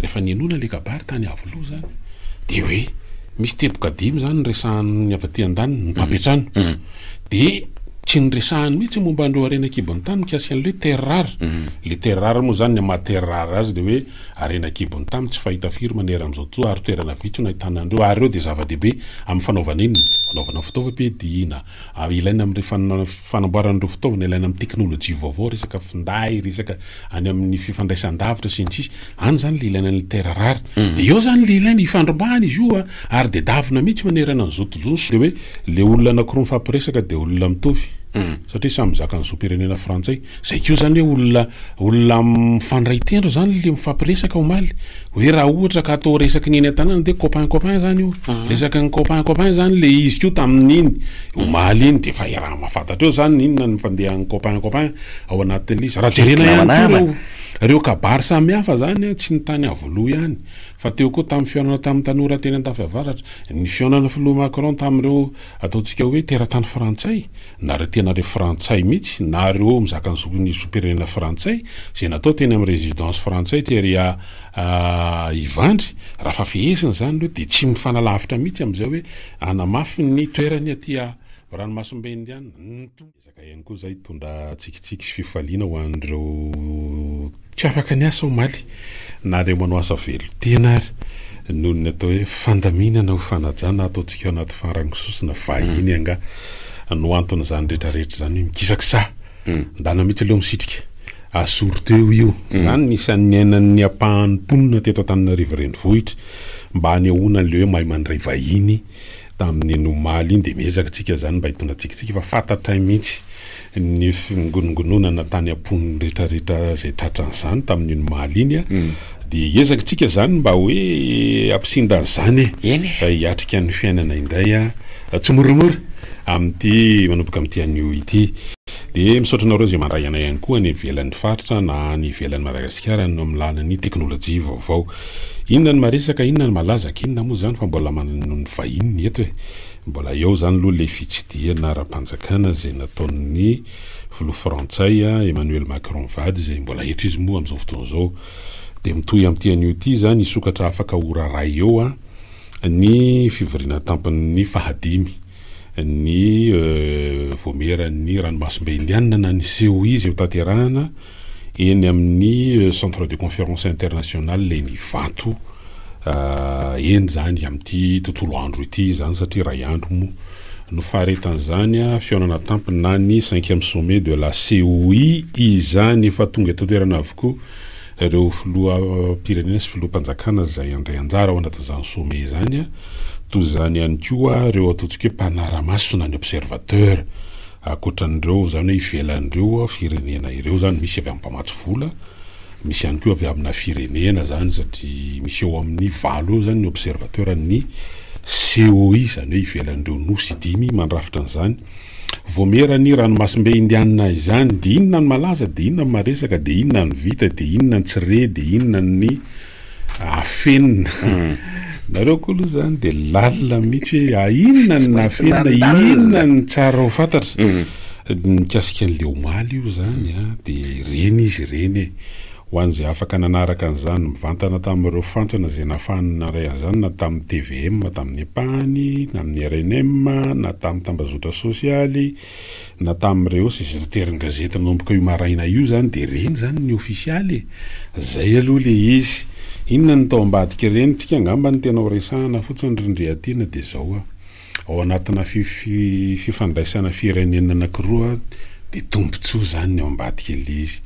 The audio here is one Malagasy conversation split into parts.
Rehefa nihenoana ilay kabary tany Iavoloha izany dia hoe misy teboka dimy izany niresahan'ny avy aty an-daniny, ny mpampi trano. Dia tsy niresahany mihitsy momba an'ireo harena an-kibon'ny tany mikasika an'ilay hoe terres rares. Ilay terres rares moa izany, ny maha terres rares azy dia hoe harena an-kibon'ny tany tsy fahita firy manerana amin'izao tontolo ary toerana vitsy no ahitana an'ireo ary ireo dia zava-dehibe amin'ny fanaovana inona? Fanaovana fitaovam-piadiana, ary ilaina amin'ireo fanamboarana ireo fitaovana ilaina amin'ny teknolojia vaovao, resaka finday, resaka any amin'ny fifandraisan-davitra sy ny sisa, any izany ilay ilaina ny terre rare, mhm. dia eo izany ilay ilaina ifandrombahana izy io ary dia davina mihitsy manerana an'izao tontolo izao, dia hoe ilay olona anankiroa mifampiresaka dia olona mitovy, mhm. satria samy mizaka ny zom-pirenena frantsay. Zay koa zany hoe olona olona mifandray tendro zany le mifampiresaka omaly hoe raha ohatra ka atao resaky ny eny an-tanàna dia copain copain zany io resaky ny copain copain zany le izy koa tamin'iny omaly iny dia efa iaraha mahafantatra eo zany ny inona ny fandehan'ny copain copain ao anatin'ilay izy raha jerena ihany koa ireo ireo kabary samihafa zany an tsy ny tany Iavoloha ihany fa teo koa tamin'ny fihaonana tamin'ny tanora teny Andafiavaratra ny fihaonana filoha Macron tamin'ireo ataontsika hoe teratany frantsay Nareo tena le frantsay mitsy, nareo mizaka ny zoky ny zom-pirenena frantsay, ze natao teny am residence frantsay tery a Ivandry, raha fa fehezina zany reo de tsy mifanalavitra mitsy amzay hoe anamafy ny toerany aty a ranomasimbe indiana, ny ezaka ihany koa zay hitondra tsikitsiky sy fifaliana ho anreo. Tsy afaka ny asa omaly. Nareo manao asa velon-tena ary noho ny atao hoe fandaminana ho fanajana ataontsika ao anaty farango sosona vahiny angaha no anton'izany retraretra izany hoe mikisakisaha. Ndana mitsy aleo misitrika. Asoro teo io. Izany ny isan'ny niainan'ny ampahan'ny mponina teto Antananarivo renivohitra mba hanehoana an'ilay hoe mahay mandray vahiny Tamin'ny iny omaly iny dia niezaka isika izany mba hitondra tsikintsika fa fantatray mihitsy ny fingonongononana tany am-pon'ny retraretra izay tratran'izany tamin'iny omaly iny a, dia hiezaka isika izany mba hoe hampisinda an'izany e! Eny e! hiatrika ny fiainana indray a! tsy moramora amin'ity manomboka amin'ity anio ity. Dia misaotra anareo izay mandray anay ihany koa any ivelan'ny faritra na any ivelan'i Madagasikara any amin'ny alalan'ny teknolojia vaovao. Inona ny maresaka, inona ny malaza ak inona moa zany fa mbola manana ny vahiny eto e! Mbola eo zany loha le fitsidihana ara-panjakana zay nataon'ny filoha frantsay Emmanuel Macron vady zay mbola eto izy moa amzao fotoana zao de mitohy amty anio ty zany hisokatra afaka ho raray eo ny fivoriana antampon'ny fahadimy ny voamieran'ny ranomasimbe indianina na ny seho izy hotanterahana Eny amin'ny Centre de Conférence International eny Ivato eny izany amin'ity tontolo andro ity izany satria iray andro moa no faharetan'izany fihaonana tampony na ny cinquième sommet de la COI izany efa tonga eto an-toerana avokoa ireo filoham-pirenena sy filoham-panjakana izay handray anjara ao anatin'izany sommet izany toy izany ihany koa ireo ataontsika hoe mpanara-maso na ny observateur Ankoatran'ireo izany hoe ivelan'ireo firenena ireo izany, misy avy amin'ny mpamatsy vola, misy ihany koa avy amina firenena izany satria misy eo amin'ny valo eo izany ny observateur an'ny COI, izany hoe ivelan'ireo nosy dimy mandrafitra an'izany. Voamera ny ranomasimbe indianina izany, dia inona ny malaza, dia inona ny maresaka, dia inona ny vita, dia inona ny tsy re, dia inona ny afenina nareo koa aloha zany de lalina mihitsy hoe a inona ny nafenina inona ny tsara ho fantatra mm. mikasika an'le omaly io zany a ah, de reny izy ireny e ho an'izay afaka nanaraka an'izany mivantana tamin'ireo fantsona izay nafahany naray an'izany na tamin'ny tvm tamin'ny ampahany na amin'ny rnm na tamin'ny tambazotra sosialy Na tamin'ireo sy zoroterin gazety nanomboka io maraina io zany de reny izany ny ofisialy e! Zay aloha le izy! Inona ny tao ambadik'ireny? Tsika angamba ny tena ho resahana fotsiny ry ndry Atina de zao a! Ao anatina fifandraisana firenena anakiroa de tombotsoa izany ny ao ambadik'ilay izy.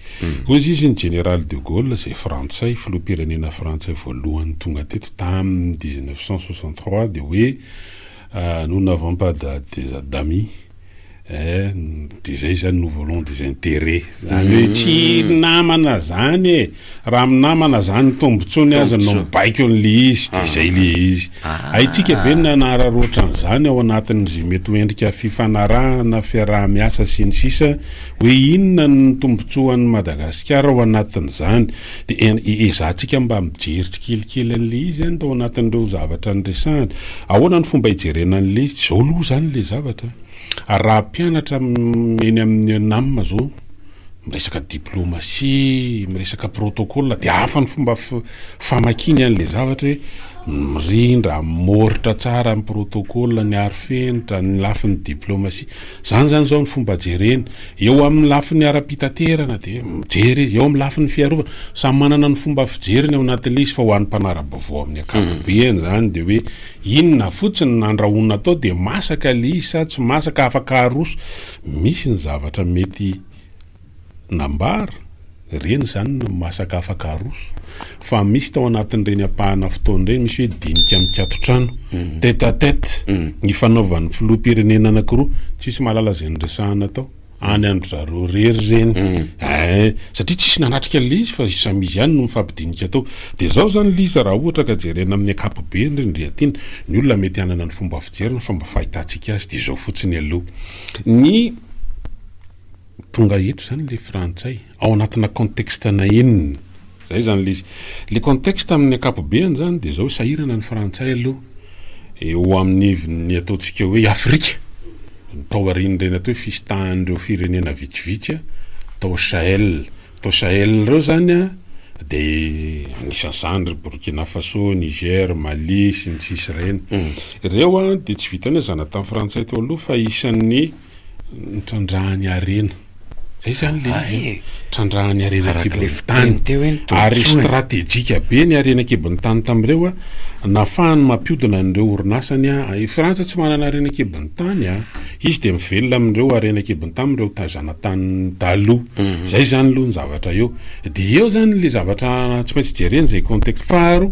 Hozy izy ny Jeneraly de Gaulle izay frantsay, filoham-pirenena frantsay voalohany tonga teto tamin'ny dix-neuf cent soixante-trois de hoe, Nous n'avons pas des d'amis eh, de zay zany nous voulons des intérêts zany hoe tsy namana zany e, raha amin'ny namana zany ny tombotsoany aza no mibaiko an'le izy de zay le izy. Haintsika ve ny nanararaotra an'izany ao anatin'izay mety ho endrika fifanarahana, fiaraha-miasa sy ny sisa hoe inona ny tombotsoan'i Madagasikara ao anatin'izany. Dia ezahantsika mba mijery tsikelikely an'ilay izy any tao anatin'ireo zavatra niresahany. Ahoana no fomba hijerena an'ilay izy? Izao aloha izany ilay zavatra, ary raha mpianatra eny amin'ny ENAM izao, miresaka diplomasia, miresaka protocole, dia hafa ny fomba famakiany an'ilay zavatra hoe mirindra, mihoritra tsara ny protocole, ny arofenitra, ny lafiny diplomasia. Izany izany izao ny fomba jereny. Eo amin'ny lafiny ara-pitaterana dia mijery izy, eo amin'ny lafiny fiarovana, samy manana ny fomba fijeriny ao anatin'ilay izy fa ho an'ny mpanara-baovao amin'ny ankapobeny izany dia hoe inona fotsiny no nandrahoina atao dia masaka ilay izy sa tsy masaka, afaka aroso, misy ny zavatra mety nambara. Ireny izany no masaka afaka aroso. Fa misy tao anatin'ireny ampahana fotoana ireny misy hoe dinika mikaton-trano, tête à tête, nifanaovan'ny filoham-pirenena anankiroa. Tsy misy mahalala izay niresahana tao. Any an-dry zareo irery ireny. Ee, satria tsy nisy nanatrika an'ilay izy fa samy izy ihany no nifampidinika tao. Dia izao izany ilay izy raha ohatra ka jerena amin'ny ankapobeny ry Ndriatiana. Ny olona mety hanana ny fomba fijeriny fa ny fomba fahitantsika azy dia izao fotsiny aloha. Ny. Tonga eto izany ilay frantsay ao anatina contexte na inona. Izay izany ilay izy. Ilay contexte amin'ny ankapobeany izany dia izao, sahirana ny frantsay aloha eo amin'iny ataontsika hoe i Afrika, tao aorian'ireny atao hoe fisitahan'ireo firenena vitsivitsy tao Sahel. Tao Sahel ireo izany dia anisan'izany ry Burkina Faso, Niger, Mali sy ny sisa ireny. Ireo dia tsy vitan'ny hoe zanatany frantsay teo aloha fa isan'ny. nitrandrahany harena. Zay izany le izy e. Trandrahany harena an-kibon'ny tany. Ary stratejika be ny harena an-kibon'ny tany tamin'ireo a. Nahafahany mampiodina an'ireo orinasany a. I Frantsa tsy manana harena an-kibon'ny tany a. Izy dia mivelona amin'ireo harena an-kibon'ny tany amin'ireo ta- zanatanin'ny taloha. Zay izany aloha ny zavatra eo. Dia eo izany le zavatra tsy maintsy jerena izay contexte. Faharoa,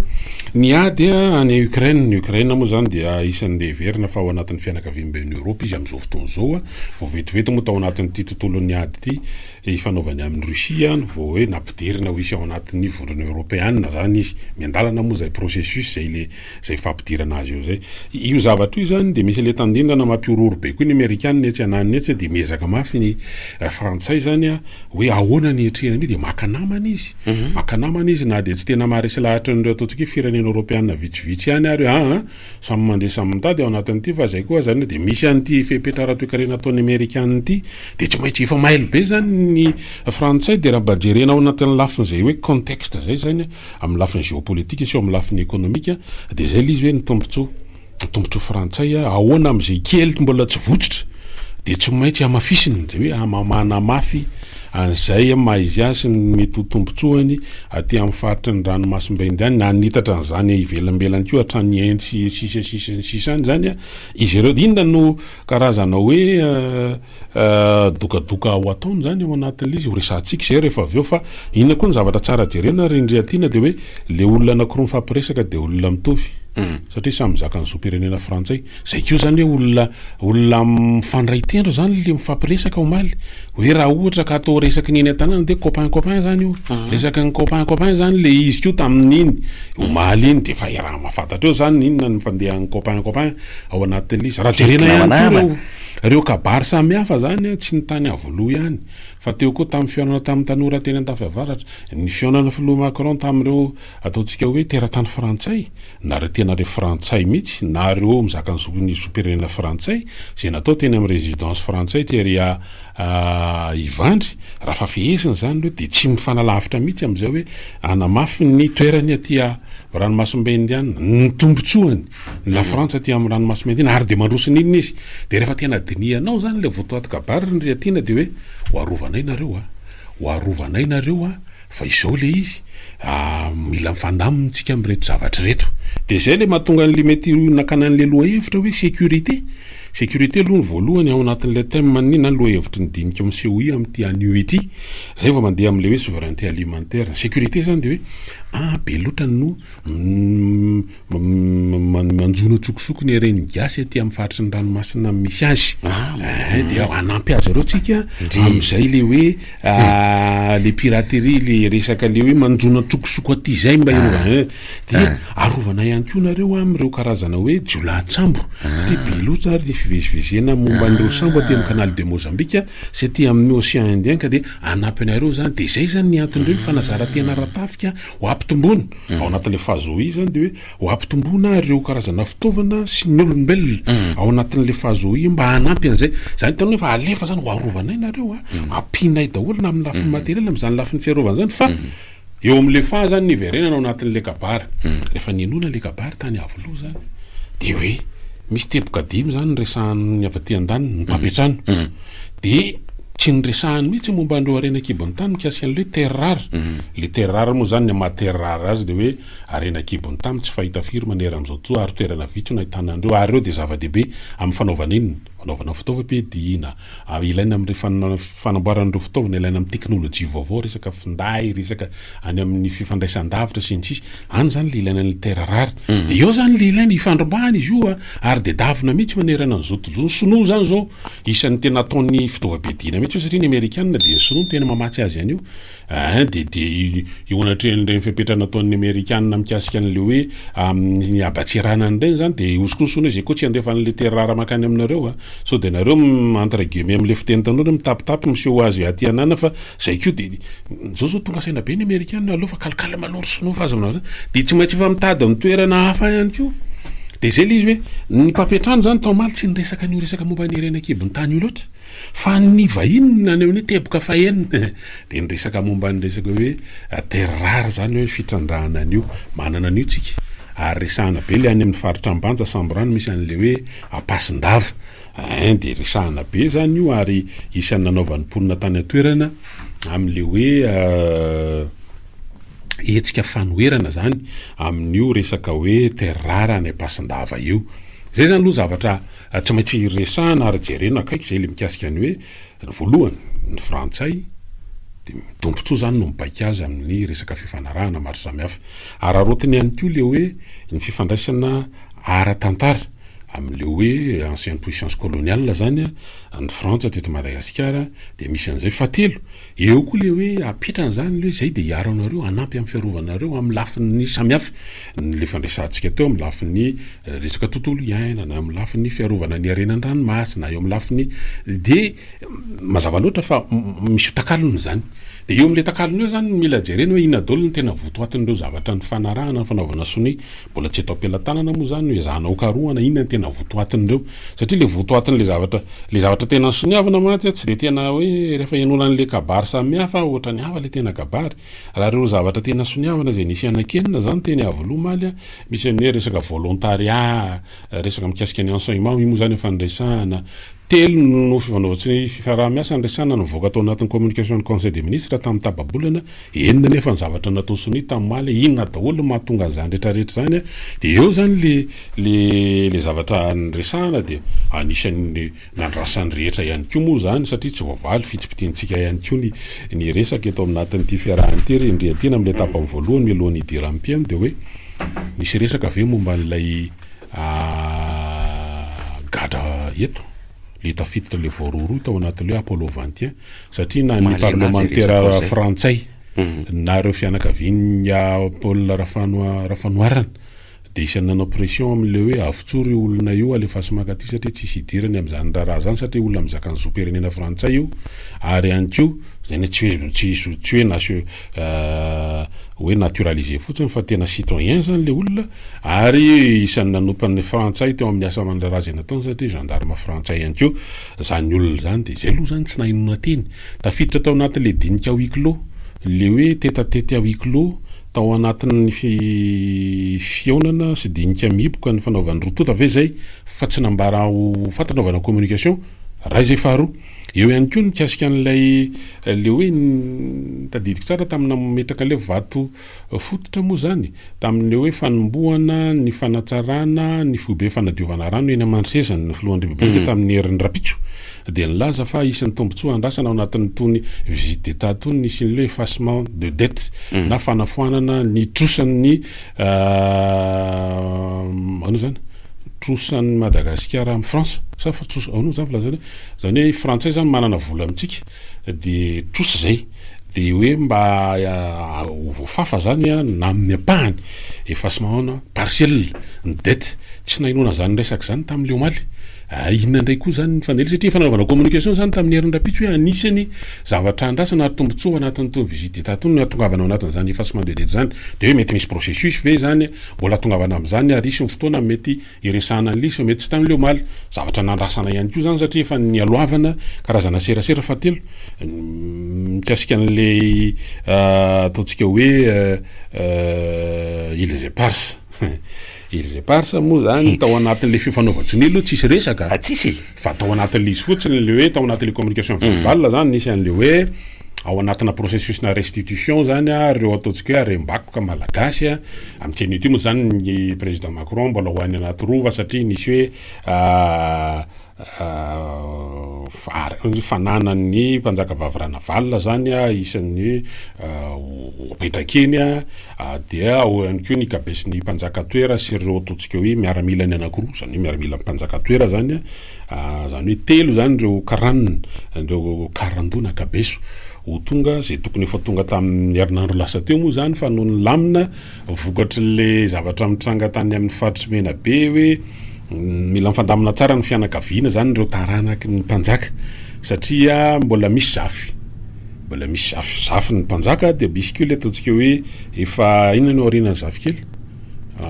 ny ady a any Ukraine, ny Ukraine moa izany dia isan'ny le heverina fa ao anatin'ny fianakaviana. avy any Uni Europe izy amin'izao fotoana izao a, vao vetivety moa tao anatin'ity tontolon'ny ady ity ifanaovany amin'i Russie no vao hoe nampidirina ho hisy ao anatin'ny vondrona eoropeana izany izy, miandalana moa izay processus izay le izay fampidirana azy eo izay. Io zavatra io izany dia misy an'ilay tandindona mampihorohoro be koa ny amerikana etsy ananiny etsy dia miezaka mafy ny frantsay izany a hoe ahoana ny hiatrehany an'io dia maka namana izy, maka namana izy na dia tsy tena maharesy lahatra an'ireo ataontsika hoe firenena eoropeana vitsivitsy ihany ary an! Samy mandeha samy mitady ao anatin'ity fa izay koa aza anie dia misy an'ity fepetra ara-toekarena ataon'ny amerikana ity dia tsy maintsy efa mailo be izany ny frantsay dia raha mba jerena ao anatin'ny lafin'izay hoe contexte izay izany amin'ny lafiny géopolitique sy ao amin'ny lafiny économique dia izay ilay izy hoe ny tombontsoa ny tombontsoa frantsay ahoana amin'izay kely mbola tsy votsotra dia tsy maintsy hamafisina izay hoe manamafy an'izay amin'ny maha izy azy sy ny mety ho tombontsoany aty amin'ny faritry ny ranomasimbe Indiana, na hanitatra an'izany ivelambelany koa hatrany Inde sy ny sisa sy ny sisa any izany izy ireo. Inona no karazana hoe dokadoka ho ataony izany ao anatin'ilay izy? Horesahantsika izay rehefa avy eo fa inona koa no zavatra tsara jerena ry ndry Athina dia hoe ilay olona anankiroa mifampiresaka dia olona mitovy satria samy zakan'ny zom-pirenena frantsay. Zay koa zany hoe olona olona mifandray tendro zany le mifampiresaka omaly hoe raha ohatra ka atao resaky ny eny an-tanàna dia copain copain zany io resaky ny copain copain zany le izy koa tamin'iny omaly iny dia efa iaraha mahafantatra eo zany ny inona ny fandehan'ny copain copain ao anatin'ilay izy raha jerena ihany koa ireo ireo kabary samihafa zany an tsy ny tany Iavoloha ihany fa teo koa tamin'ny fihaonana tamin'ny tanora teny Andafiavaratra ny fihaonana filoha Macron tamin'ireo ataontsika hoe teratany frantsay Nareo tena le frantsay mitsy, nareo mizaka ny zokin'ny zom-pirenena frantsay, ze natao teny am residence frantsay tery a Ivandry, raha fa fehezina zany reo de tsy mifanalavitra mitsy amzay hoe anamafy ny toerany aty a ranomasimbe indianina, ny tombotsoany ny la frantsa aty am ranomasimbe indiana ary de mandroso ny inona izy, de refa tena dinihanao zany le votoaty kabary ry Riatiana de hoe ho arovanay nareo a, ho arovanay nareo a, Fa izao ilay izy ah, mila mifandamina isika amin'ireto zavatra ireto. Dia izay ilay mahatonga an'ilay mety nakana an'ilay lohahevitra hoe sécurité. Sécurité aloha ny voalohany ao anatin'ilay thème-n'ny na lohahevitry ny dinika ao amin'ny COI amin'ity anio ity. Izay vao mandeha amin'ilay hoe souveraineté alimentaire. Ny sécurité izany dia hoe, ah be loatra no Manjono antsokosoko ny reny gasy aty amin'ny faritry ny ranomasina misy azy. Ah, eh, eh, dia hanampy azy ireo tsika amin'izay le hoe ah, le piraterie le resaka le hoe manjono antsokosoko aty izay mba ireo ah. eh. dia ah. arovana ihany koa nareo amin'ireo karazana hoe jiolahatsambo satria be loatra ary ny fivezivezena momba an'ireo sambo aty amin'ny canal de Mozambika sy aty amin'ny océan Indien ka dia hanampy anareo zany dia izay zany ny anton'ireo ny fanazarantena ara-tafika ho ampitomboana Ao anatin'ilay fahazoaizany dia hoe ho hampitomboana ireo karazana fitaovana sy ny olombelona ao anatin'ilay fahazoaia mba hanampy an'izay. Izany hitany hoe efa alefa izany, ho arovanay nareo a, ampianay daholo na amin'ny lafiny materiel na amin'izany lafiny fiarovana izany fa eo amin'ilay faha izany ny hiverenana ao anatin'ilay kabary. Rehefa nihenoana ilay kabary tany Iavoloha izany dia hoe misy teboka dimy izany no resahan'ny avy aty an-daniny, ny mpampiantrano. Dia tsy niresahany mihitsy ny momba an'ireo harena an-kibon'ny tany mikasika an'ilay terrar. Ilay terrar moa izany, ny maha terrar azy dia hoe harena an-kibon'ny tany tsy fahita firy maneran' izao tontolo ary toerana vitsy no ahitana an'ireo ary ireo dia zava-dehibe amin'ny fanaovana inona? Fanaovana fitaovam-piadiana, ilaina amin'ny fanamboarana ireo fitaovana ilaina amin'ny teknolojia vaovao, resaka finday, resaka any amin'ny fifandraisan-davitra sy ny sisa, any izany ilay ilaina ny terrar. Dia eo izany ilay ilaina, ifandrombahana izy io ary dia davina mihitsy manerana an'izao tontolo izao. Ny sinoa izany izao. Isan'ny tena ataony fitaovam-piadiana mihitsy io satria ny amerikanina dia ny sinoa no tena mamatsy azy an'io eeh dia dia eo anatrehan'ireny fepetra nataon'ny amerikanina mikasika an'ilay hoe amin'ny habatsiranana ireny zany dia hosokoso hono izy e koa tsy handefa an'ilay terrara mankany aminareo a sao dia nareo entre guillemets amin'ilay fiteny tanora mitapitapy miseho azy aty anana fa Zay koa de zao zao tonga saina be ny amerikana aleo fa kalkal malor sinoa fa aza manao zany de tsy maintsy efa mitady ny toerana hafa ihany koa de zay le izy hoe ny mpampiantrano zany tao maly tsy niresaka an'io resaka momba ny harena an-kibon'ny tany io loatra fa ny vahiny na ny amin'ny teboka fahenina de ny resaka momba ny resaka hoe terre rare zany hoe fitrandrahana an'io manana an'io tsika ary resahana be le any amin'ny faritra ambanja samborano misy an'le hoe ampasin-dava Hein dia resahana be zany io ary isan'ny nanaovan'ny mponina tany an-toerana amin'le hoe hetsika fanoherana zany amin'io resaka hoe terre rare any Ampasindava io. Zay zany aloha zavatra tsy maintsy resahana ary jerena akaiky zay le mikasika ny hoe Ny voalohany, ny Frantsay dia midombotsoa izany no mibaiko azy amin'ny resaka fifanarahana maro samihafa. Araraotiny ihany koa ilay hoe ny fifandraisana ara-tantara amin'ilay hoe ancienne puissance coloniale izany ny Frantsa teto Madagasikara dia misy an'izay. Fahatelo, eo koa ilay hoe apetrany izany ilay hoe izay dia hiaro anareo, hanampy amin'ny fiarovanareo amin'ny lafiny samihafa. Ilay fandraisantsika teo amin'ny lafiny resaka tontolo iainana, eo amin'ny lafiny fiarovana ny harena an-dranomasina, eo amin'ny lafiny dia mazava loatra fa misy takalony izany. Dia eo amin'ilay takalony eo izany no mila jerena hoe inona daholo no tena votoatin'ireo zavatra nifanarahana, fanaovana sonia, mbola tsy eto am-pelatanana moa izany no ezahana hokarohana inona no tena votoatin'ireo. Satria ilay votoatin'ilay zavatra, ilay zavatra tena soniavina mantsy tsy dia tena hoe rehefa ihainoana an'ilay kabary samihafa ohatran'ny hafa ilay tena kabary. Raha ireo zavatra tena soniavina izay nisy hanankenina izany teny Iavoloha omaly, misy ny hoe resaka volontariat, resaka mikasika ny enseignement, io moa izany efa niresahana. Telo no fifanaovan-tsy ny fiaraha-miasa niresahana no nivoaka tao anatin'ny communication-n'ny Conseil des ministres tamin'ny tapa-bolana, enina anefa ny zavatra natao sonia tamin'omaly, inona daholo no mahatonga an'izany rehetrarehetra izany? Dia eo izany ilay zavatra niresahana dia anisan'ny. Nandrasan'ny rehetra ihany koa moa izany satria tsy voavaly fitipitiantsika ihany koa ny ny resaka eto anatin'ity fiarahana ity. Rendreha tena amin'ilay tapany voalohany mialohan'ny hidiran'ny mpihaino dia hoe nisy resaka ve momba an'ilay gadra eto, ilay tafiditra ilay voarohirohy tao anatin'ilay hoe Apollo Ventien satria na ny parlemantera frantsay na ireo fianakavian'i Paul Rafanoharana. Dia isan'ny nanao pression amin'le hoe avotsory io olona io alefaso mankaty satria tsisy idirany amin'izany raharaha izany satria olona mizaka ny zom-pirenena frantsay io ary ihany koa Izany hoe tsy hoe tsy zo tsy hoe nation hoe naturaliser fotsiny fa tena citoyen izany le olona ary isan'ny nanompa ny frantsay teo amin'ny asa aman-draharaha izay nataony satria gendarme frantsay ihany koa izany olona izany dia izay aloha izany tsy nahay nonateny tafiditra tao anatin'le dinika huis clos le hoe tete à tete à huis clos Tao anatin'ny fihaonana sy dinika mihiboka ny fanaovan'ny roa tonta ve izay fa tsy nambara ho fantatra vao na communication? Raha izay faharoa. Eo ihany koa ny mikasika an'ilay le hoe tadidiko tsara tamin'ny nametraka ilay vato fototra moa izany tamin'ilay hoe fanombohana ny fanatsarana ny foibe fanadiovana rano eny Amanroseza ny filohan'ny repoblika tamin'ny herin'ny rapitso dia nilaza fa hisy ny tombontsoa andrasana ao anatin'itony visite d'Etat itony ny hisian'ilay effacement de dette na fanafoanana ny trosan'ny ahoana izany? trosan'ny Madagasikara amin'i Frantsa sa trosa ahoana izany filazana hoe izany hoe Frantsay izany manana vola amintsika dia trosa izay dia hoe mba ho voafafa izany na amin'ny ampahany effacement partiel ny dette, tsy nahenoana izany resaka izany tamin'ilay omaly. Ahh inona indray koa izany ny fanely satria efa nanaovana communication izany tamin'ny herin'ny rahampitso hoe anisany zavatra andrasana ary tombotsoa anatin'itony visite d'Etat itony ny hatongavana ao anatin'izany effassement de dette izany dia hoe mety misy processus ve izany mbola hatongavana amin'izany ary hisy ny fotoana mety hiresahana an'ilay izy fa mety tsy tamin'ilay omaly zavatra nandrasana ihany koa izany satria efa nialohavana karazana serasera fahatelo mikasika an'ilay ataontsika hoe îles éparses. Izy eparsa moa zany tao anatin'le fifanaovan-tsonia aloha tsisy resaka ah, tsisy e, fa tao anatin'le izy fotsiny le hoe tao anatin'le communication verbale zany nisy an'le hoe ao anatina processus-na restitution zany ah reo ataontsika hoe harem-bakoka malagasy ah, amin'ity anio ty moa zany ny président Macron mbola ho any anaty rova satria nisy hoe vary, ny fananan'ny mpanjakavavy Ranavalona zany isan'ny ho apetraka eny, dia ao ihany koa ny kabesin'ny mpanjaka toera sy ireo ataontsika hoe miaramilany anankiroa, zany hoe miaramilan'ny mpanjaka toera zany, zany hoe telo zany ireo karana, ireo karandoha na kabeso ho tonga, izay tokony efa tonga tamin'ny herinandro lasa teo moa zany fa noho ny lamina. Vokatrin'ilay zavatra mitranga tany amin'ny faritr'i Menabe hoe mila mifandamina tsara ny fianakaviana izany ireo taranaky ny mpanjaka satria mbola misy zafy mbola misy zafy zafy ny mpanjaka dia misy koa ilay ataontsika hoe efa inona no aorianan'ny zafikely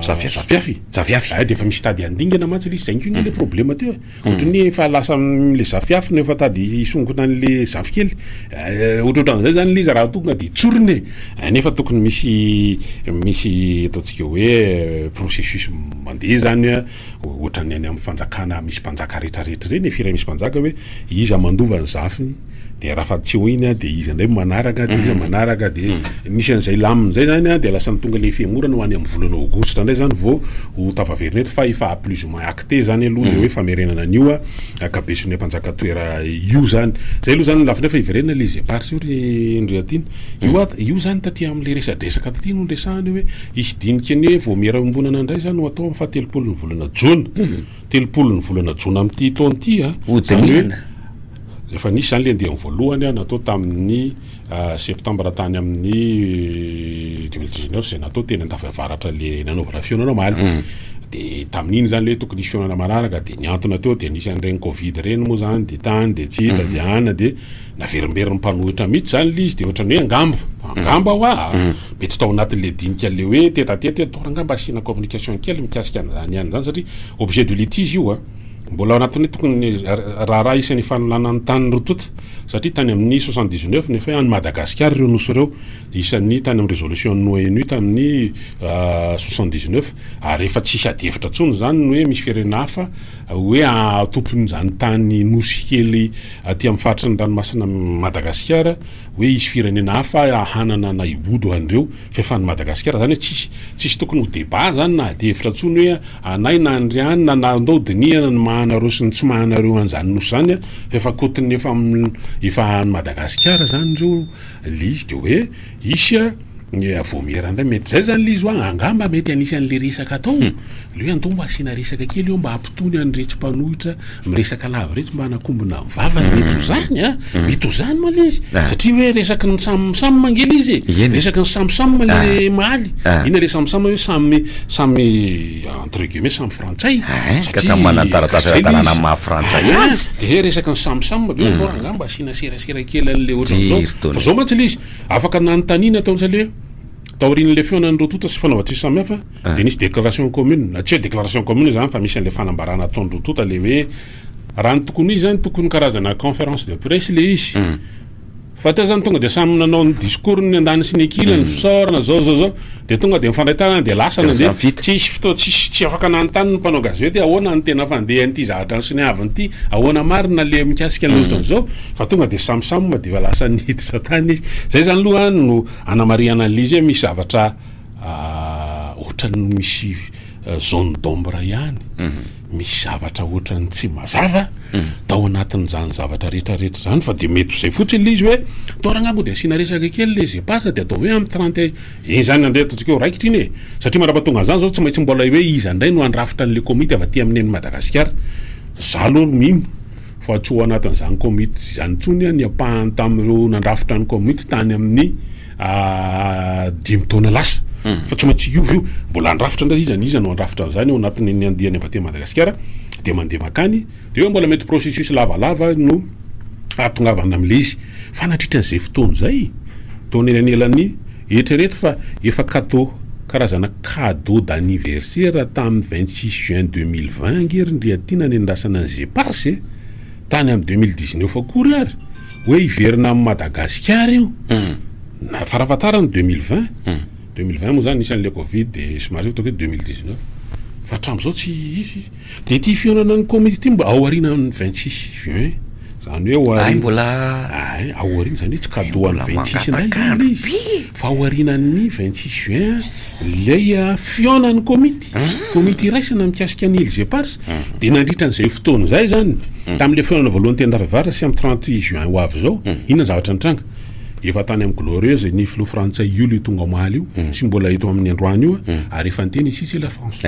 Zafiafy. Zafiafy. Zafiafy. Ay, dia efa misy tady handingana mantsy ilay izy. Izay koa anie ilay problema teo e. Ohatry ny hoe efa lasa amin'ilay zafiafy no efa tady hisongona an'ilay zafikely. Ohatrohatran'izay izany ilay izy raha tonga dia tsorina e! Nefa tokony misy misy ataontsika hoe processus mandeha izany ohatran'ny any amin'ny fanjakana misy mpanjaka rehetrarehetra ireny e, firay misy mpanjaka hoe iza mandova ny zafiny, de raha fa tsy eo iny a de iza indray manaraka de iza manaraka de misy an'izay laminy zay zany a de lasa ny tonga le fihemorana ho any amin'ny volana aogositra indray zany vao ho tafaverina eto fa efa plus ou moins acté zany aloha le hoe famerenana an'io a ankabeson'ilay mpanjaka toera io zany zay aloha zany ny lafiny fa hiverenana les eparses io ry ndry aty io a io zany taty am'le resadresaka taty no niresahana hoe hisy dinika ny hoe vaomiera iombonana indray zany ho atao amin'ny fahatelopolon'ny volana jona telopolon'ny volana jona amin'ity taona ity a zany hoe Efa nisy izany ilay andiany voalohany natao tamin'ny septambra tany amin'ny deux mille dix neuf izay natao teny Andafy Avaratra ilay nanaovana fihaonana omaly. Hmm. Dia tamin'iny izany ilay tokony hisy fihaonana manaraka dia niantona teo dia nisy an'ireny Covid ireny moa izany dia tany dia tsy hita hmm. dia ana dia naverimberin'ny mpanohitra mihitsy izany ilay izy dia ohatrany hoe angamba angamba hoa hmm. mety tao anatin'ilay dinika ilay hoe tetateta hoe ataovy angamba asiana communication kely mikasika an'izany ihany izany satria objet de litige io a. Mbola ao anatin'ny tokony raharaha hisy ny fanolana ny tany rotota satria tany amin'ny soixante dix neuf ny efa hoe an'i Madagasikara ireo nosy ireo isan'ny tany amin'ny résolution-n'ny ONU tamin'ny soixante dix neuf ary efa tsy hisy adihevitra intsony izany ny hoe misy firenena hafa hoe tompon'izany tany nosy kely aty amin'ny faritry ny ranomasina Madagasikara hoe hisy firenena hafa hanana na hibodo an'ireo Fiefan'ny Madagasikara zany hoe tsisy tsisy tokony ho débat zany na ady hevitra tsony hoe anay na anry any na na ndao dinihana ny maha anareo sy ny tsy maha anareo anzany nosy zany a f'efa kotiny efa efa any Madagasikara zany reo le izy de hoe hisy a ny a vaomiera ndray mety zay zany le izy hoa angamba mety hanisy anle resaka atao le hoe andao mba asiana resaka kely eo mba Tony any retsy mpanohitra miresaka lava retsy mba hanakombona ny vavany mety ho zany a mety ho zany moa le izy satria hoe resaky ny samy samy mangina izy e resaky ny samy samy le mahaly ina le samy samy hoe samy samy entre guillemets samy frantsay ka samy manana ny taratasy ara-dalàna amin'ny maha frantsay azy de resaky ny samy samy be ohatra angamba asiana serasera kely an'le ohatran'izao fa zao mantsy le izy afaka nanontaniana tao ntsale hoe Taorian'ilay fihaonan'ireo tonta sy fanaovan-tsesy samihafa dia nisy déclaration commune, na tsy hoe déclaration commune izany fa misy an'ilay fanambarana ataon'ireo tonta ilay hoe raha ny tokony ho izy izany tokony karazana conference de presse ilay izy fa teo izany tonga dia samy nanao ny discours ny andaniny sy ny ankilany fisaorana zao zao zao dia tonga dia mifandray tanana dia lasa nandeha tsisy fotoana tsisy tsy afaka nanontany ny mpanao gazety ahoana ny tena fandehan'ity zavatra nisoniaviny ity ahoana marina ilay mikasika ny otrany zao fa tonga dia samy samy dia efa lasa niditra tany izy izay izany aloha no Anamarihana an'ilay izy hoe misy zavatra ohatran'ny misy zone d'ombre ihany, misy zavatra ohatran'ny tsy mazava tao anatin'izany zavatra rehetra rehetra izany fa dia mety ho izay fotsiny ilay izy hoe toa r'angaha moa dia asiana resaka kely ilay Zepas dia atao hoe amin'ny trente et izany andretantsika eo raikitra iny e! satria mandrapatonga an'izany izao tsy maintsy mbola hoe iza indray no handrafitra an'ilay komity avy aty amin'i Madagasikara, za aloha mino fa tsy ho anatin'izany komity izany intsony ny ampahany tamin'ireo nandrafitra ny komity tany amin'ny dimy taona lasa. Hmm. Fa tsy maintsy hiova io. Mbola handrafitra indray izy, an'iza no handrafitra an'izany ao anatin'ny andiany avy aty Madagasikara, dia mandeha mankany, dia eo mbola mety processus lavalava no hahatongavana amin'ilay izy. Fa nandritra an'izay fotoana izay, tao anelanelan'ny. Eritrereto fa efa kato, karazana cadeau d'anniversaire tamin'ny vingt six juin deux mille vingt ange ry Ndriatiana nendrasana ny Gepars e! Tany amin'ny deux mille dix neuf akory ary hoe hiverina amin'i Madagasikara io! Na farafahatarany deux mille vingt! Deux mille vingt moa izany nisy an'ilay covid dia somary hitako hoe deux mille dix neuf fa hatramin'izao tsy hisy! Dia ity fihaonanan'ny komity ity mba aorianan'ny vingt six juin, izany hoe aoriana, hay mbola, hay aoriana izany hoe tsy cadeau an'ny vingt six indray izany ilay izy fa aorianan'ny vingt six juin ilay fihaonan'ny komity, komity iraisana mikasika ny îles éparses, dia nandritra an'izay fotoana izay izany, tamin'ilay fihaonana voalohany teny Ravavaratra sy amin'ny trente juin ho avy izao, inona ny zavatra nitranga? Efa tany amin'ny Glorieuse ny filoha frantsay io ilay tonga omaly io, tsy mbola eto amin'ny androany io ary efa niteny izy sy i La France.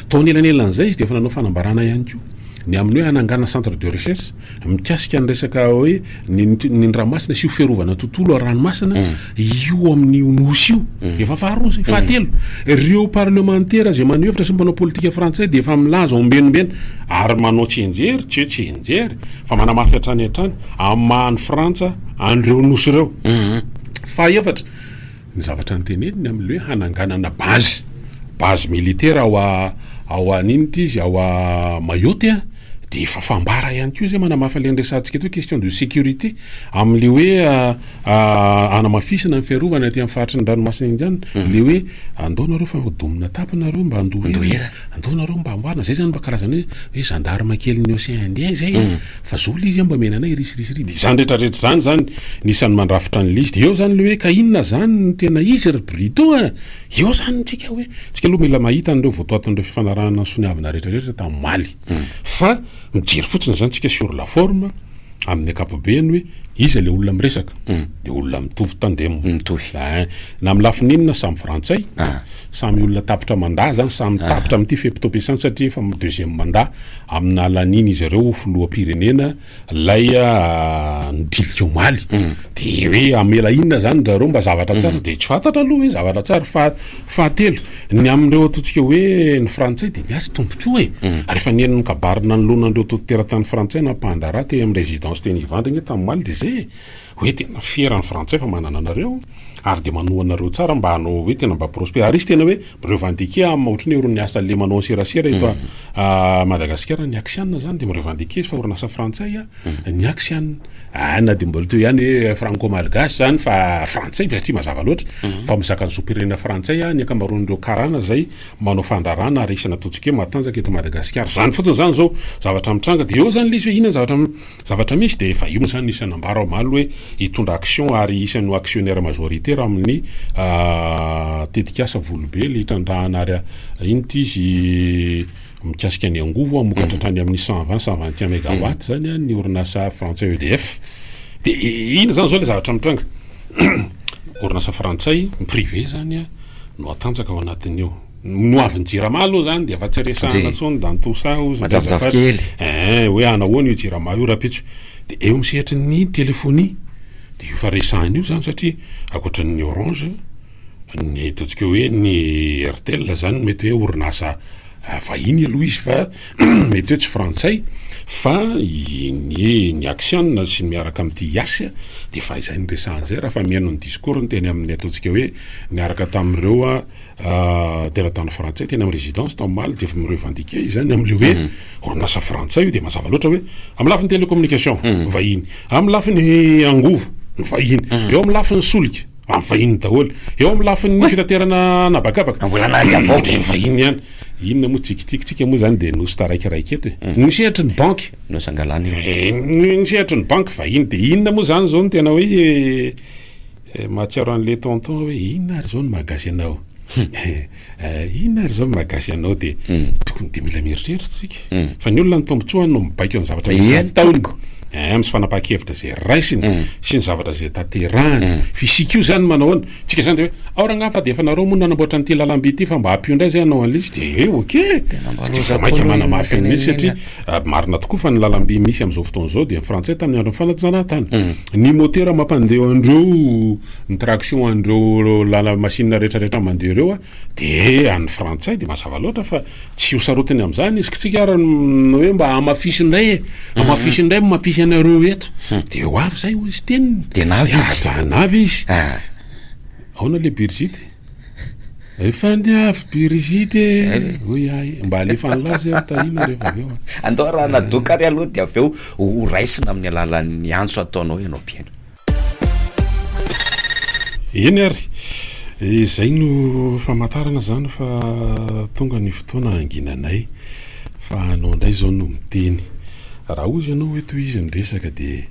Tao anelanelan'izay, izy dia efa nanao fanambarana ihany koa ny amin'ny hoe hanangana centre de recherche mikasika ny resaka hoe ny ny ny ranomasina sy io fiarovana ny tontolo ara-ranomasina io amin'io nosy io. Efa faharoa izay. Fahatelo, ireo parlemantera izay maneho hevitra sy mpanao politika frantsay dia efa milaza ombienimbeny ary manao tsianjery, tsy hoe tsianjery fa manamafy hatrany hatrany amin'ny maha an'i Frantsa an'ireo nosy ireo. Fahefatra, Ny zavatra niteneniny amin'ny hoe hananganana base, base militaire ao ao an'inona ity izy ao Mayotte a, dia efa fambara ihany koa izay manamafy an'ilay niresahantsika teo question de sécurité amin'ilay hoe hanamafisana ny fiarovana aty amin'ny faritry ny ranomasina Indiana, ilay hoe andao nareo fa domina atapy nareo mba handoa hira, andao nareo mba hamboarina, izay izany mba karazana hoe gendarme kelin'ny Ocean Indien izay e. Fa zao lizy a mba miaina anay risirisy ry dia izany rehetra rehetra izany zany ny isan'ny mandrafitra an'i lizy dia eo zany le hoe ka inona zany no tena izy ry brito a! eo zany ny tsika hoe tsika aloha mila mahita an'ireo votoatin'ireo fifanarahana nisoniavina rehetra rehetra tamin'omaly fa mijery fotsiny zany tsika sur la forme amin'ny ankapobeany hoe iza le olona miresaka dia olona mitovy tandem mitovy na amin'ny lafiny inona samy frantsay Samy olona tapitra mandat zany, samy tapitra amin'ity fe potoam-piasany satria efa deuxième mandat amina lanian'izy ireo ho filoham-pirenena lay nidilika omaly, de hoe hamela inona zany ndry zareo mba zavatra tsara de tsy fantatra aloha hoe zavatra tsara, fa fahatelo ny amin'ireo ataontsika hoe ny frantsay de miasa tombotsoa e, ary efa nihaino ny kabary nanoloana an'ireo tontolo teratany frantsay nampandraharaha teny amin'ny residence teny Ivandry anie tamin'ny omaly de zay e. Hoe tena fiera ny frantsay fa manana anareo ary dia manoa anareo tsara mba hanao hoe tena mba prosper ary izy tena hoe mirevendiquer am ohatran'ny hoe orin'ny asa le manao anserasera eto a Madagasikara ny aksiana zany dia mirevendiquer izy fa orinasa frantsay a ny aksiana a na dia mbola teo ihany hoe franco malgache zany fa frantsay fa tsy mazava loatra fa mizaka ny zom-pirenena frantsay a ny ankamaroan'ireo karana zay manao fandrarana ary isana ataontsika hoe matanjaka eto Madagasikara zany fotsiny zany zao zavatra mitranga dia eo zany le izy hoe inona ny zavatra Zavatra misy dia efa io izany nisy nanambara omaly hoe hitondra action ary isany ho actionnaire majoritaire amin'ny tetikasa Volobely hitrandrahana ary inty izy mikasika ny angovo hamokatra hatrany amin'ny cent vingt cent vingt et un megawatt izany ny orinasa frantsay EDF dia inona izany izao ilay zavatra mitranga orinasa frantsay privé izany no hatanjaka ao anatin'io no avy ny jirama aloha zany dia efa tsy resahana tsony dantosa ozy majavojavo kely eh hoe anahoana io jirama io rapitso dia eo amin'ny sehatry ny telefonia dia io fa resahana io zany satria akoatra ny orange ny ataontsika hoe ny airtel zany mety hoe orinasa ah, vahiny aloha izy fa mety hoe tsy frantsay fa ny ny aksiana sy ny miaraka amin'ity yasy dia fa izay ny resahana izay raha fa mihaino ny discours ny teny amin'ny ataontsika hoe niaraka tamin'ireo a ah, teratany frantsay teny amin'ny residence tao Maly dia efa mi-revendiquer izany amin'ilay hoe mhm. orinasa frantsay io dia mazava loatra hoe amin'ny lafiny télécommunication mhm. vahiny amin'ny lafiny angovo vahiny mhm. eo amin'ny lafiny solika amin'ny vahiny daholo eo amin'ny lafiny fitaterana anabakabaka mbola nazy avao dia vahiny ihany inona moa tsikitikitsika moa zany dia nosy taraikiraiky eto e mm. ny sehatry ny banky nosy angalana eo eh, ny sehatry ny banky vahiny dia inona moa zany zao no tena hoe Eh, mahatsiaro an'le tonton hoe inona ary zao ny mahagasy anao? Eh, inona ary zao ny mahagasy anao? De hmm. tokony de mila mieritreritra tsika. Hmm. Fa ny olona ny tombontsoany no mibaiko an'ny zavatra eh, efa ataony. Eh, misy fanapahan-kevitra zay raisiny hmm. sy ny zavatra zay tanterahany. Fisika io zany manao ahoana? Tsika zany de hoe ao rangah fa de efa nareo moa nanamboatra an'ity lalamby ity fa mba hampio indray zay hanao an'le izy de eh, ok. Tena mba rosa. Maika manamafy an'le satria Marina tokoa fa ny lalamby misy amin'izao fotoana izao dia ny frantsay tamin'ny andron'ny fanajana tany. Ny motera mampandeha an'ireo, ny traction an'ireo lala-masinina rehetrarehetra mandeha ireo dia an'ny frantsay dia mazava loatra fa tsy ho sarotiny amin'izany izy. Kitsika ary ny hoe mba hamafiso indray e! Hamafiso indray ny mampisy anareo eto. Dia ho avy izay hoy izy teniny. Dia navy izy. Dia navy izy. Ahoana le Birgit? Efa niavy by rigide e! hoy ahy. Mba alefa an'i lahy zay ry Tahina rehefa avy eo a! Andao raha nadoaka ary aloha dia avy eo ho raisina amin'ny alalan'ny antso ataonao ianao mpihaino. Eny ary, izay no famantarana izany fa tonga ny fotoana hanginanay. Fa anao indray izao no miteny. Raha hozy ianao hoe tohizo ny resaka dia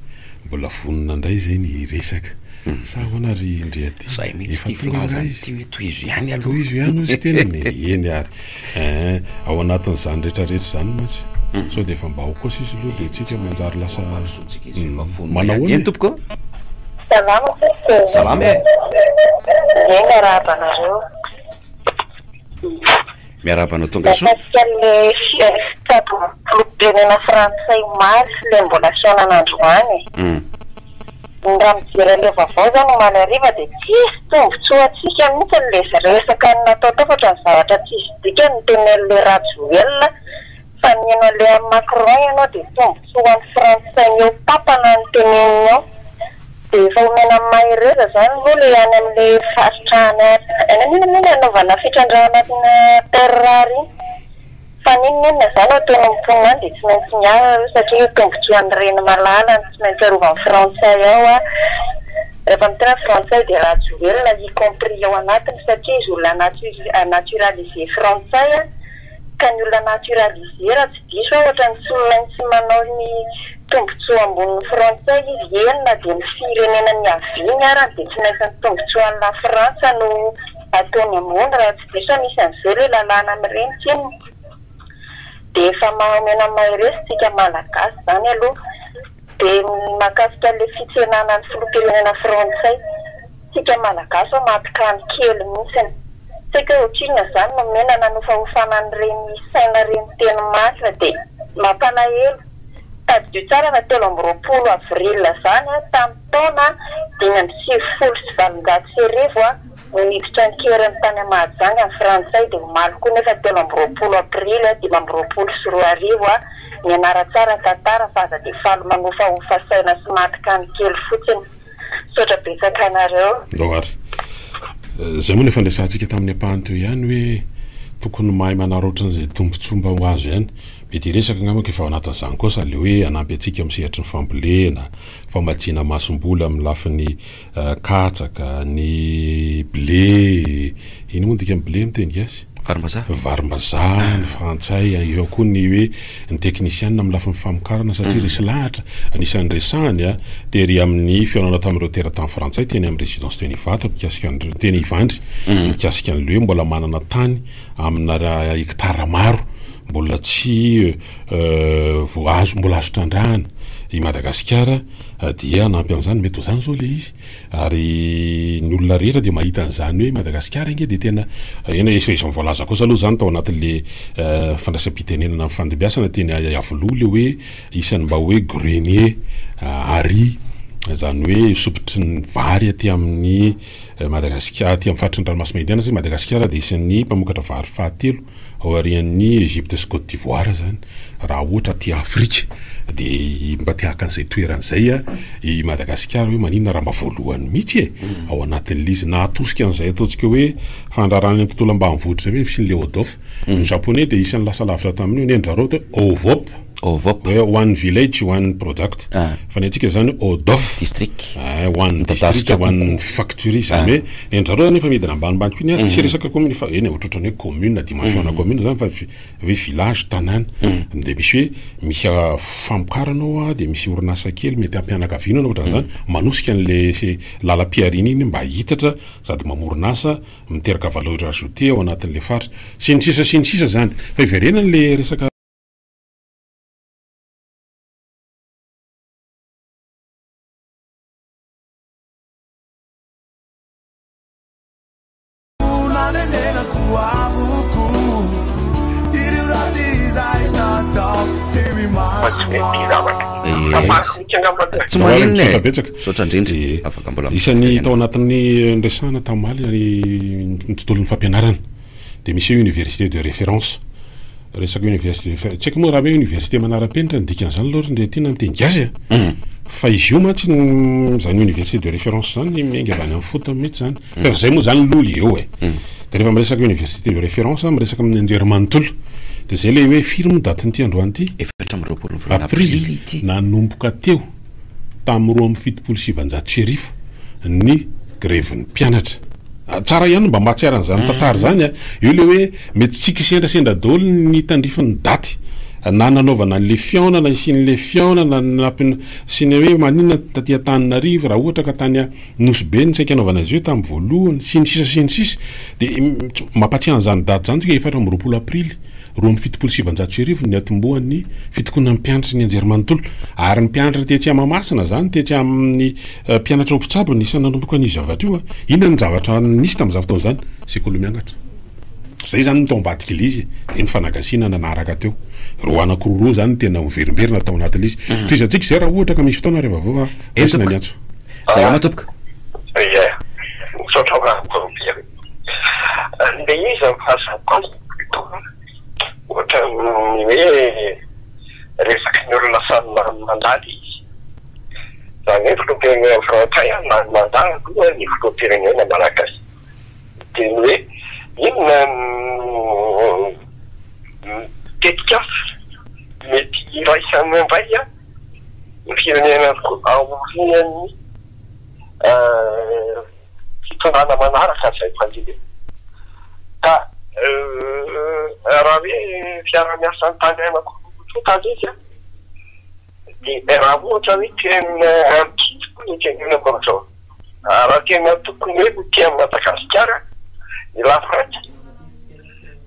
mbola vonona indray izay ny hiresaka. Sa ahoana ry ndry aty? Zay mihitsy ty filazany ity hoe tohizo ihany aloha. Tohizo ihany hozy teniny e! Eny ary eh! Ao anatin'izany rehetra rehetra izany mantsy sao dia efa mba ao kosa izy aloha dia tsika manjary lasa manao ahoana e? Salama sisy e! Salama e! Ie miarahaba anareo. Miarahaba anao tonga soa. Mahakasika anle fiesta do filoham-pirenena frantsay omaly sy le mbola fihaonana androany e. Ny raha mijery anle vaovao zany omaly hariva de tsisy tombotsoa antsika mihitsy ny le resaka natao tao fa otrany zavatra tsisy dikany ny teneninle rajoelina Fa ny enao leha Macron enao de tombotsoa ho an'ny frantsay ny eo tapana ny teneniny ao de efa homena amin'ny mahereza zany aloha le any amle faritra any any amin inona moa le anaovana fitrandrahana anatina terre rare iny fa n'inona inona zany ao ataon'ny mponina any de tsy maintsy miala aloha satria io tombotsoa an'ny reny malala no tsy maintsy arovan'ny frantsay ao a refa miteny frantsay de rajoelina y compris ao anatiny satria izy olona natu- naturaliser frantsay a. ka ny olona naturalisé raha tsy diso aho ohatran'ny tsy olona tsy manao ny tombotsoa ambonin'ny frantsay izy eny na dia ny firenena niaviany arany dia tsy maintsy ny tombotsoan'ny lafrantsa no ataony ambony raha tsy diso aho misy an'izay ilay lalàna amin'ireny tsinona dia efa maha omena mahereza isika malagasy izany aloha dia ny mahakasika ilay fitsenana ny filoham-pirenena frantsay Tsika malagasy ô maty kany kely mintsiny. Tsy haiko hoe otrinona zany no mena nanofahofana an'ireny saina reny teny marina de mampalahelo. Tadidio tsara fa telo amby roapolo avril zany tamin'ny taona dimy amby sivifolo sy valonjato sy arivo no niditra an-keriny tany à Mahajanga ny frantsay de omaly koa nefa telo amby roapolo aprily dimy amby roapolo sy roa arivo mianara tsara tantara fa aza de faly manofahofa saina sy maty kany kely fotsiny Misaotra betsaka anareo. Ndao ary. Izay moa no efa niresahantsika tamin'ny ampahany teo ihany hoe tokony mahay manaraotra an'izay tombontsoa mba ho azo ihany. Mety hiresaka angamba efa ao anatin'izany koa sady ilay hoe hanampy antsika amin'ny sehatry ny fambolena, famatsiana masomboly amin'ny lafiny katsaka, ny blé, inona moa ny dikan'ny blé amin'ny teny gasy? Varimbazaha. Varimbazaha, ny frantsay, eo ihany koa ny hoe ny teknisianina amin'ny lafiny famokarana satria resy lahatra, anisan'ny resahany tery amin'ny fihaonana tamin'ireo teratany frantsay teny amin'ny Résidence teny Ivato mikasika ny, teny Ivandry, mikasika ny hoe mbola manana tany amina hectares maro mbola tsy voa, azo, mbola azo trandrahana i Madagasikara dia hanampy an'izany, mety ho izany izao ilay izy. Ary ny olona rehetra dia mahita an'izany hoe Madagasikara ange dia tena eny efa izy voalaza kosa aloha izany tao anatin'ilay fandraisam-pitenenana nifandimbiasana teny Iavoloha ilay hoe isan'ny mba hoe grenier à riz izany hoe sopitry ny vary aty amin'ny Madagasikara aty amin'ny faritry ny ranomasimbe Indiana satria Madagasikara dia isan'ny mpamokatra vary fahatelo Aorian'ny Egypte sy Côte d'Ivoire zany raha ohatra aty Afrika de mba te haka an'izay toerana zay i Madagasikara hoe maninona raha mba voalohany mitsy e! ao anatin'le izy na atosika an'izay ataontsika hoe fandraharahana ny tontolo ambanivohitra zay hoe ny fisian'le ODOF ny Japonais de isan'ny lasa lavitra tamin'io nen'i Jareo teo OVOP. Ovop. Hoe one village, one product. Fa ny antsika izany Odof. District. Eh, one district, one factory. Izany hoe, ny an-dry zareo efa midina ambanimbany koa ny azy, tsy resaka commune fa eny e, ohatrohatran'ny hoe commune, dimension ana commune izany fa hoe village, tanàna. Dia misy hoe, misy famokarana ao an, dia misy orinasa kely mety ampianakaviana na ohatran'izany, manosika an'ilay lalam-pihariana iny mba hihitatra sady mamorona asa, miteraka valeur ajoutée ao anatin'ilay faritra. Sy ny sisa sy ny sisa izany. Fa hiverenan'ilay resaka. tsy maninona e. betsaka misaotra indrindra eh. afaka mbola isan'ny tao anatin'ny resahana tamaly ny tontolon'ny fampianarana dia misy hoe université de référence. Resaka université de référence, tsy haiko moa raha hoe université manara-penitra ny dikan'izany aloha ry Ndriatiana amin'ny teny gasy an! fa izy io mantsy no, izany université de référence izany miainga avy any amin'ny fotony mihitsy izany. Fa izay moa izany lolo eo e! Dia rehefa miresaka université de référence, miresaka amin'ny anjerimanontolo. Dia izay ilay hoe firy moa datin'ity androany ity? Efatra amby roapolo volana aprily nanomboka teo. tamin'ny roa amby fitopolo sy sivinjato sy arivo ny grevin'ny mpianatra. Tsara ihany ny mba mahatsiaro an'izany tantara izany an! Eo ilay hoe mety tsy kisendrasendra daholo ny tandrify ny daty na nanaovana an'ilay fihaonana hisian'ilay fihaonana nampiana sy ny hoe maninona taty Antananarivo raha ohatra ka tany Nosy Be no saika hanaovana azy io tamin'ny voalohany sy ny sisa sy ny sisa dia mampatsiahy an'izany daty izany tsika efatra amby roapolo aprily Roa amby fitopolo sy sivinjato sy arivo ny niatombohan'ny fitokonan'ny mpianatry ny anjerimanontolo ary ny mpianatra tetsy Mahamasina izany tetsy amin'ny mpianatra ho mpitsabo ny isa nanomboka an'io zavatra io. Inona no zavatra nisy tamin'izany fotoana izany? Sekoly miangatra. Izay izany no tao ambadik'ilay izy dia ny fanagasiana nanaraka teo. Ireo anankiroa ireo izany no tena miverimberina tao anatin'ilay izy. Tohizantsika izay raha ohatra ka misy fotoana ary vaovao fa raisina ny antso. Salama tompoko. Ie, misaotra anao Rakoto Robert. Ilay izy no fahazakoa azy. Toa ohatran'ny hoe resaky ny olona samy lany mandady izy. Izany hoe filoham-pirenena frantsay lany mandà aloha ny filoham-pirenena malagasy. Dia ny hoe inona no tetikasa mety iraisany indray ny firenena aorian'ny. Fitsarana manaraka izay mpandeha ka euh raha hoe fiarahamiasan'ny tany aina koa tany izy an! dia raha ohatra hoe tena kivy koa ny tenenako amin'izao an! raha tena tokony hoe ho tia an'i Madagasikara ny lafrantsa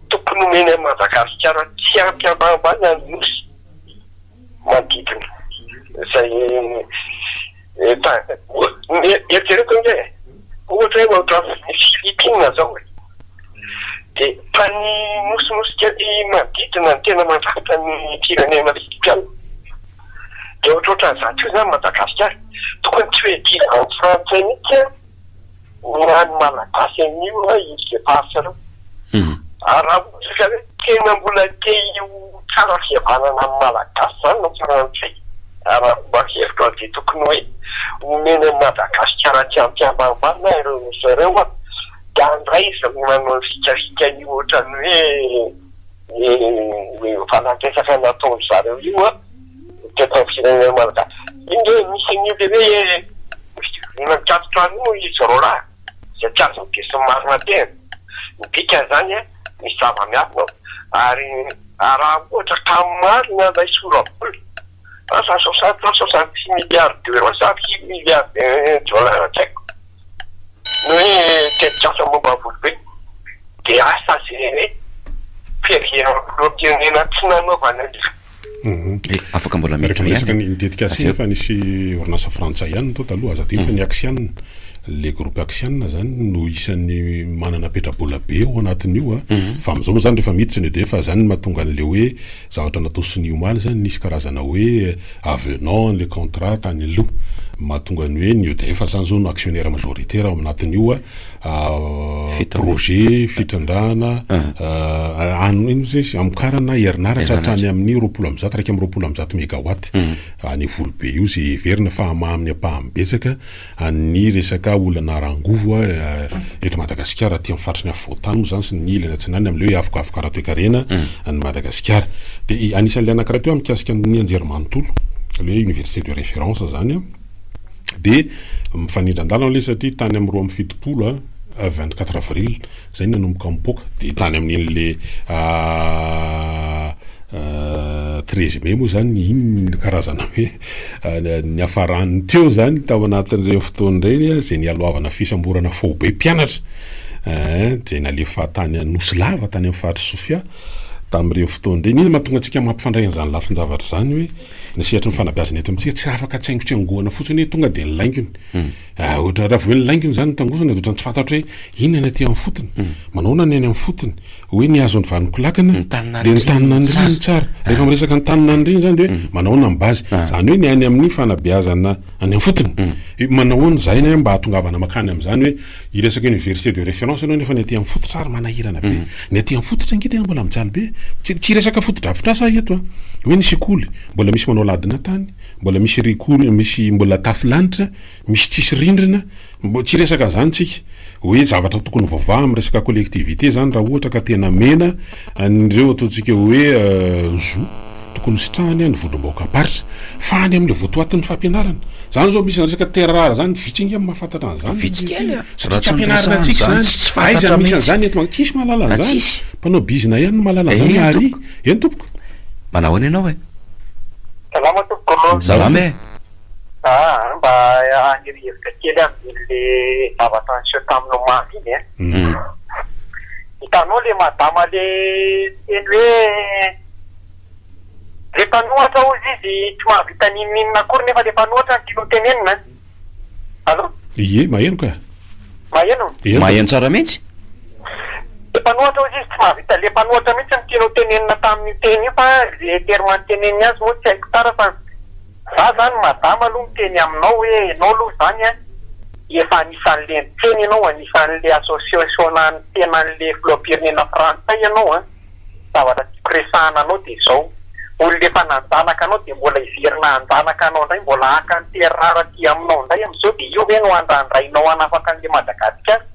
tokony homeny an'i Madagasikara tsy ampy ambanimbany ny nosy manodidina izay tany. Eritrereto ange e, ohatra hoe ohatran'ny Philippines izao e, dia tany nosinosy kely manodidina no tena mandrafitra ny firenena filipiana. Dia ohatrohatran'izato io izany Madagasikara, tokony tsy ho edihina any Frantsay mihitsy an! Mihaino Malagasy anio hoe ino izay faritsanao. Ary raha ohatra ka hoe tena mbola te ho tsara fihavanana amin'ny Malagasy izany ny Frantsay, araka ny hevitro dia tokony hoe omeny an'i Madagasikara aty am-piambana ambana ireo nosy ireo an, dia andraiza ny manao fikafika io ohatran'ny hoe io fanandresaka nataon-dry zareo io an. Mitoetra amin'ny firenena malagasy. Iny re misy an'io le hoe fivoriana mikatona an'io moa izy roalahy izay tsy azon'ny besinimaro tehina. Ny dikan'izany a, misy zava-miafina ao. Ary raha ohatra ka marina ilay sora-baolina, asa soixante na soixante six milliards d'euros sa six milliards de dollars tsy haiko, ny hoe tetikasa momba ny volobe, dia asa izay hoe fiheveran'ireo firenena tsy nanaovana an'izany. Afaka mbola miditra ihany. Rehefa miresaka ny tetikasa iny fa nisy orinasa frantsay ihany tao taloha, aza adino fa ny Axian, ilay groupe Axian izany no isan'ny manana petra-bola be ao anatin'io fa amin'izao moa izany rehefa miditra ny edf izany no mahatonga an'ilay hoe zavatra natao sonia omaly izany nisy karazana hoe avenant an'ilay contrat tany aloha mahatonga ny hoe ny edf izany izao no actionnaire majoritaire ao anatin'io projet fitrandrahana an ino moa izy amokarana herinaratra hatrany amin'ny roapolo amby zato iraika amby roapolo amby zato megawatt any Volobe io izay heverina fa hamaha amin'ny ampahany betsaka an'ny resaka olana ara-angovo eto Madagasikara aty amin'ny faritry ny afovoantany moa izany sy ny ilany atsinanana amin'ilay hoe avokavoka ara-toekarena an'i Madagasikara. Dia anisan'ilay anankiray koa mikasika ny anjerimanontolo ilay hoe université de référence izany an. Dia mifanindran-dalana ilay izy satria tany amin'ny roa amby fitopolo, vingt quatre avril, izay no nanomboka mipoaka. Dia tany amin'ilay treize mai moa izany iny no karazana hoe niafarany teo izany tao anatin'ireny fotoana ireny izay nialohavana fisamborana faobe mpianatra izay nalefa tany Anosilava tany amin'ny faritr'i Sofia tamin'ireny fotoana ireny. Inona no mahatonga antsika mampifandray an'izany lafin-javatra izany hoe. Ny sehatry ny fanabeazana eto amintsika tsy afaka tsaingotsaingohana fotsiny hoe tonga dia ny laingony. Ohatra, raha vao hoe ny laingony izany no tangozana dia ohatran'ny tsy fantatro hoe inona ny aty amin'ny fotony, manahoana ny any amin'ny fotony, hoe ny hazo ny vanon-ko lakana dia ny taninan'ny reny no tsara. Rehefa miresaka ny taninan'ny reny izany dia hoe manahoana ny base, izany hoe ny any amin'ny fanabeazana any amin'ny fotony. Hoe manahoana izahay mba hahatongavana mankany amin'izany hoe. Hiresaka université de référence ianao nefa ny aty amin'ny fototra ary manahirana be. Ny aty amin'ny fototra ange tena mbola mijaly be. Tsy tsy hiresaka fotodrafitrasa aho eto a! Hoe ny sekoly, mbola misy manao ladina tany, mbola misy rikor- misy mbola tafo lanitra, misy tsisy rindrina, mbo- tsy hiresaka an'izany tsika. Hoe zavatra tokony ho vavaha amin'ny resaka collectivité izany raha ohatra ka tena mena An'ireo ataontsika hoe zo tokony sitrahany ny vondrom-bahoakam-paritra. Fa any amin'ilay votoatin'ny fampianarana. Izany izao misy resaka terres rares izany, vitsy ange no mahafantatra an'izany. Vitsy kely an! Satria tsy ampianarina antsika izany. Aiza no misy an'izany eto an? Tsisy mahalala an'izany. Mpanao bizina ihany no mahalala an'izany àry. Eny tompoko. Manao ahoana ianao e? Salama tompoko. Salama e. Aa mba haniry hevitra kely aho amin'iny le zavatra niseho tamin'ny omaly iny e. Hitanao le madama le niteny hoe le mpanohatra hozy izy tsy mahavita n'inon'inona akory nefa le mpanohatra no tianao tenenina an! Allo? Ie, maheno ka. Maheno? Maheno tsara mihitsy. Le mpanohatra hozy izy tsy mahavita le mpanohatra mihitsy no tianao tenenina tamin'io teny io fa le terme niteneniny azy moa tsy haiko tsara fa. Za zany madama aloha miteny aminao hoe enao aloha izany an dia efa anisan'le niteny enao anisan'le associationan'ny tenan'le filoham-pirenena frantsay ianao an, zavatra tiako resahana anao dia izao, olona efa nanjanaka anao dia mbola hiverina hanjanaka anao indray mbola haka ny terreur aty aminao indray amin'izao dia io ve no andrandrainao hanafaka an'le Madagasikara?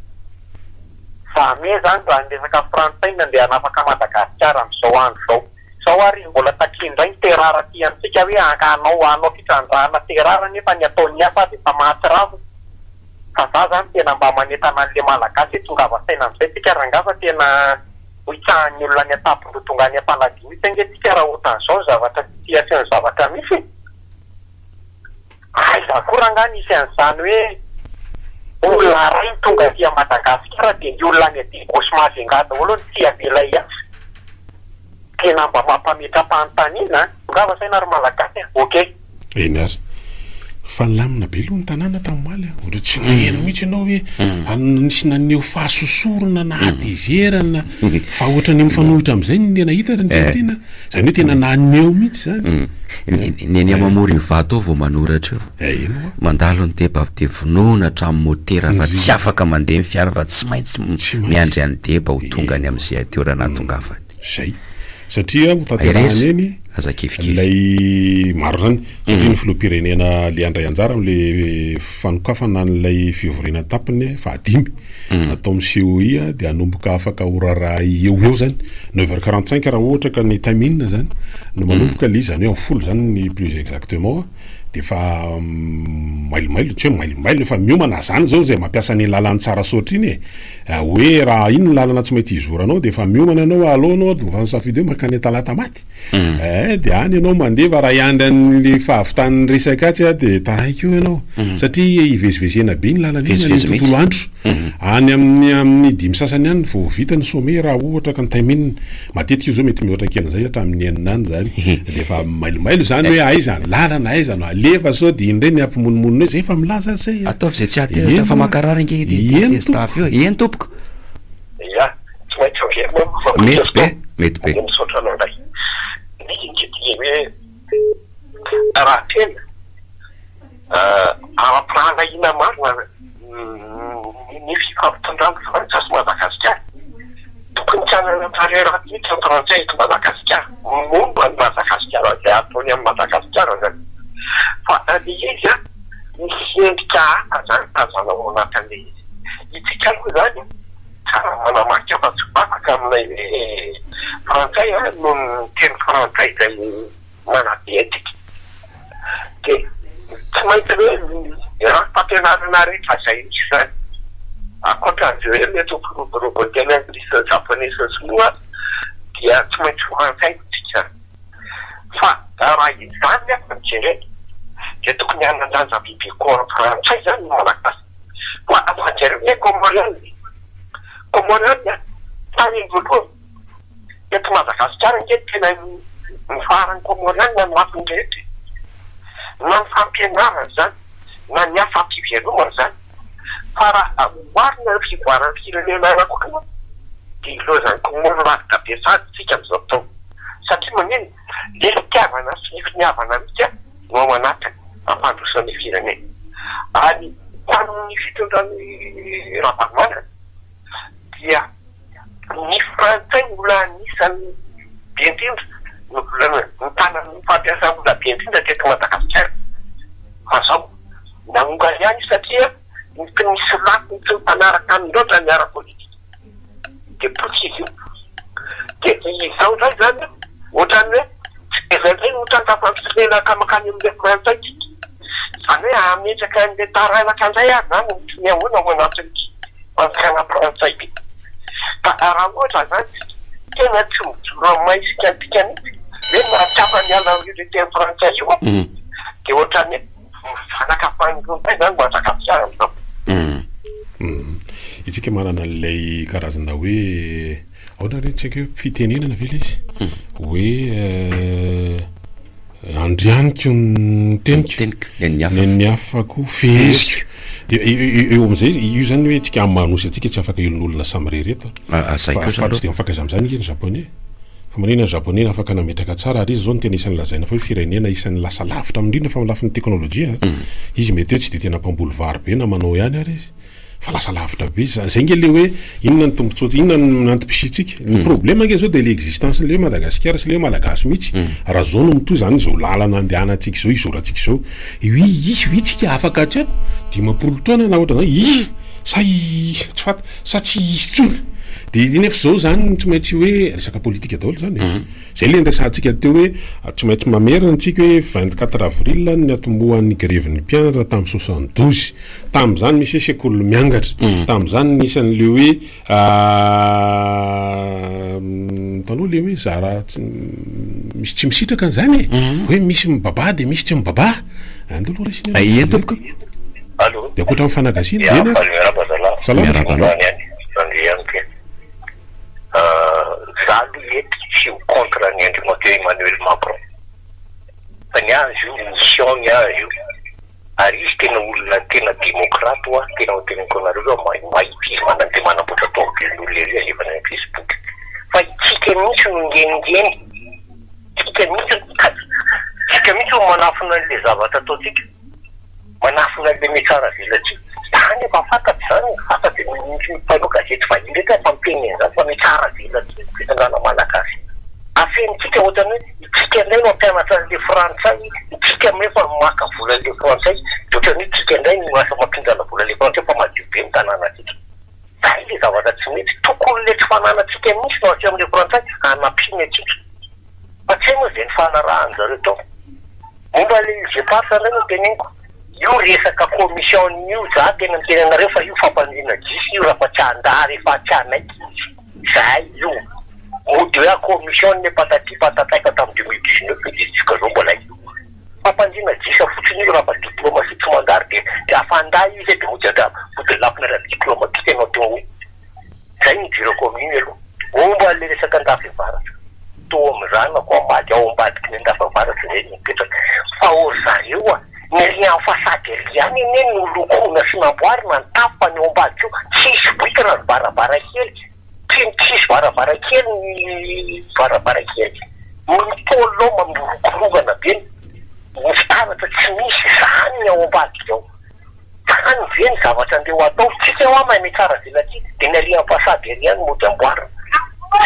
Jamais zany raha ny resaka frantsay no andeha hanafaka Madagasikara amin'izao andro izao. Izao ary izy mbola takia indray ny terreur aty amintsika hoe hanao hanao fitrandrahana terreur nefa ny ataon'ny hafa ary efa mahatsiravina fa za zany tena mba manentana an'le malagasy hoe tongava saina amzay tsika rangah fa tena ho itsahan'ny olona any an-tampon-doha tonga any am-paladia mitsy ange tsika raha ohatran'izao ny zavatra situation-ny zavatra misy e! Aiza akory angaha nisy an'izany hoe olona iray no tonga aty Madagasikara dia ny olona any aty gauche Majunga daholo no tsy avela hiasa. Tena mba mampametra-panontaniana an! Tongava saina ry Malagasy an! Ok. Eny ary. Fa nilamina be aloha ny tanàna tamin'omaly an! Ohatran'ny tsy nahery mihitsy ianao hoe nisy naneho fahasosorana na hatezerana fa ohatran'ny mifanohitra amin'izay ny nahita ary ny teny tena. Zany hoe tena naneho mihitsy zany. Ny eny Amamoro Ivato ao vao manoratra io. Eh, eny hoa. Mandalo ny deba avy dia vonoina hatramin'ny motera fa tsy afaka mandeha ny fiara fa tsy maintsy miandry an'i deba ho tonga any amin'ny CITOR nahatongavany. Zay. Satria ho tanterahana eny. Aza kifikify. Ilay maro zany. Satria ny filoham-pirenena le handray anjara amin'ilay fanokafana an'ilay fivoriana an-tapany fahadimy mm. atao amin'ny COI dia hanomboka afaka ho raharaha eo eo zany neuf heures quarante cinq raha ohatra ka ny time in zany no manomboka ilay izy zany hoe amin'ny folo zany ny plus exactement dia efa mm, mailomailo tsy hoe mailomailo efa miomana zany zao zay mampiasa ny lalany tsara soatra iny e ah, hoe raha iny ny lalana tsy maintsy hizoranao dia efa miomana ianao aloha anao dia efa nisafidy hoe mankany talata maty Eh, de any ianao mandeva raha hiandry an'le fahavitan'ny resaka atsy ah, de taraiky eo ianao. Satria hivezivezena be ny lalana iny any Vezivezy amin'ny tontolo andro. Any amin'ny amin'ny dimy sasany any vao ho vita ny sommet raha ohatra ka ny time-in. Matetika izy zao mety mihoatra kely an'izay hatramin'ny enina any zany. De efa mailomailo zany hoe aiza ny lalana, aiza no alefa sao de iny indray ny hampimonomonona eo, zay efa milaza azy zay ah. Ataovy izay tsy hahatezitra fa mankarary ange ity tezi-tafo io e. Eny tompoko. Ia. tsy maintsy averina aloha fa mety fotoana. Mety be, mety be. Misaotra anao indray. Misy ny didier hoe raha tena ara-pirahalahiana marina ny fifampitondran'ny Frantsa sy Madagasikara, tokony tsy hanana tarehy ratsy mihitsy ny Frantsay eto Madagasikara momba an'i Madagasikara, izay ataony an'i Madagasikara izany. Fa ilay izy misy endrika hafa izany tazana ao anatin'ilay izy. Isika aloha izany. Tsara manamarika fa tsy bataka aminay hoe frantsay an noho ny teny frantsay izay manabe antsika de tsy maintsy hoe ny rafi-pampianarana rehetra izay misy izany ankoatran'izay hoe mety ho mpiroborobo ny teny anglisy sy ny japoney sy ny sinoa dia tsy maintsy frantsay no dikany fa raha izany aza no jerena dia tokony hanan-danja bebe koa frantsay izany ny malagasy. Mazava jereo ny hoe Comorienne, Comorienne an, tany voalohany teto Madagasikara ange ny tena nifaharan'ny Comorienne no matin'ny rehetra e! na ny fampianarana izany na ny asa am-pivelomana izany fa raha oharina ny fivoaran'ny firenena ara-bola dia ilaozan'ny Comore lavitra be sahady isika amin'izao fotoana satria maninona? Ny fitiavana sy ny finiavana alika no ao anatin'ny fampandrosoana ny firenena. Ary tamin'ny fitondran'i Ravalomanana dia ny frantsay no mbola anisan'ny be indrindra no mbola nitana ny fampiasam-bola be indrindra teto Madagasikara. Fa izao nahongany ihany io satria ny tsy nisy lafiny sy ny mpanaraka aminy loatra ny ara-politika. dia potika io. Dia izao indray izany ohatran'ny hoe tsy dia izay indray no tranga fampirenana mankany amin'ilay frantsay tsika. Izany hoe hametraka an'ilay taranaka indray ary izany ohatran'ny hoe ahoana ao anatin'ity fanjakana frantsay ity. Ka raha ohatra izany tsika tena tsy mijoro amin'ny maha isika antsika mihitsy hoe mahatsapa miala amin'io teny frantsay io dia ohatran'ny hoe. Isika manana an'ilay karazana hoe ahoana re ny tsy haiko hoe fitenenana ve ilay izy hoe andrianiko ny teniko nen'ny hafa koa feheziko dia eo amin'izay io izany hoe antsika amin'ny maha-nosy antsika tsy afaka helonolona samirery eto fa tsy dia mifankaiza amin'izany ange ny japoney Firenena ny Japoney afaka nametraka tsara ary izy izao no tena isan'ny lazaina fa hoe firenena isan'ny lasa lavitra amin'ny indrindra fa amin'ny lafiny teknolojia. Izy mety hoe tsy dia tena mpamboly vary be na manao ihany ary izy fa lasa lavitra be izy. Izay ange le hoe inona ny tombotsoantsika, inona ny antom-pisiantsika. Ny problème ange izao dia le existence-n'le hoe Madagasikara sy le hoe Malagasy mihitsy. Raha izao no mitohy izany izao lalana andehanantsika izao, izorantsika izao, io hisy ve tsika afaka hatreo dimampolo taona na ohatran'izany? Hisy sa tsy fantatra. sa tsy hisy tsony de nefa izao zany tsy maintsy hoe resaka politika daholo zany e. Mhm. Zay le niresahantsika teo hoe ah, tsy maintsy mamerina antsika hoe vingt quatre avril ny atombohan'ny grevin'ny mpianatra tamin'ny soixante douze tamin'izany misy hoe sekoly miangatra mhm. tamin'izany nisy an'le hoe ah, mm, taloha le hoe zara misy tsy misitraka an'izany e mhm. hoe misy mibaba de misy tsy mibaba Andao aloha resy ny anao. Ie tompoko. Allô. Dia ankoatra ny fanagasiana. Dia na. Miarahaba zalahy. Salama. Miarahaba anao. Any any. Andry ihany koa. Euh, za aloha eto tsy ho contre an'i Andriamatoa Emmanuel Macron. Fa ny ahy izy io mission ny ahy io. Ary izy tena olona tena démocrate hoa, tena hoteneniko anareo hoe mahi- mahita izy mana- dia manamboatra tomobilin'olona ery alevany any Facebook. Fa itsika mihitsy no ngengeny. Tsika mihitsy no mitady. Tsika mihitsy no manafina an'ilay zavatra ataontsika. Manafina an'ilay mety tsara avelantsika. Za anefa fantatro izany fa afa dia ny mpanao gazety vahiny irery aza miteny an'izany fa mety tsara avelantsika ny fitondrana malagasy. Afenintsika ohatrany hoe itsika indray no hampianatra an'ilay frantsay, itsika indray efa maka vola an'ilay frantsay dia ohatrany hoe itsika indray no lasa mampihindrana vola an'ilay frantsay fa madio be ny tanànatsika. Zay ilay zavatra tsy mety. Tokony ilay tsy fananantsika mihitsy no asehon'ilay frantsay hanampiana antsika. fa tsy hay moa izay nifanarahan-dry zareo tao. Momba ilay Îles Éparses indray no teneniko, io resaka commission-ny io zah tena miteny anareo fa io fampandriana gisa io raha fa tsy andraha rehefa tsy hanaiky izy izahay io mody hoe commission ne patati patata efa tamin'ny deux mille dix neuf eto izy jisk'izao mbola io fampandriana gisa fotsiny io raha fa diploma sy tsy mandary dia afa-andahy izy dia mody andraha mody lafina ara-diploma tsika ianao teo hoe Zay ny idirako amin'iny aloha. Momba an'ilay resaka Andafiavaratra, toa mizanako hamaly ao ambadiky ny Andafiavaratra izay no mipetraka. Fa ô ry zareo a! Ny riant façade ery ihany anie no nolokoina sy namboarina ny tafo fa ny ao ambadiky io tsy hisy brique na varavarankely. Tsy tsy hisy varavarankely ny varavarankely. Ny pôle ao mirokoronkana be, ny fitaratra tsy misy. Izany ny ao ambadiky ao. Tany ve ny zavatra andeha ho atao? Tsika hoa maime tsara velatsihy dia ny arian'ny façade ery ihany mody amboarina.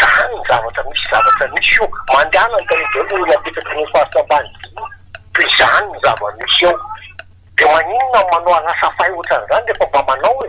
Zany ny zavatra misy zavatra misy io. Mandehana ny tany daholo ireo olona apetraky ireo faritra ambany be io. Dia izany ny zava-misy eo. Dia maninona no manao anasafahy ohatran'izany rehefa mba manao e?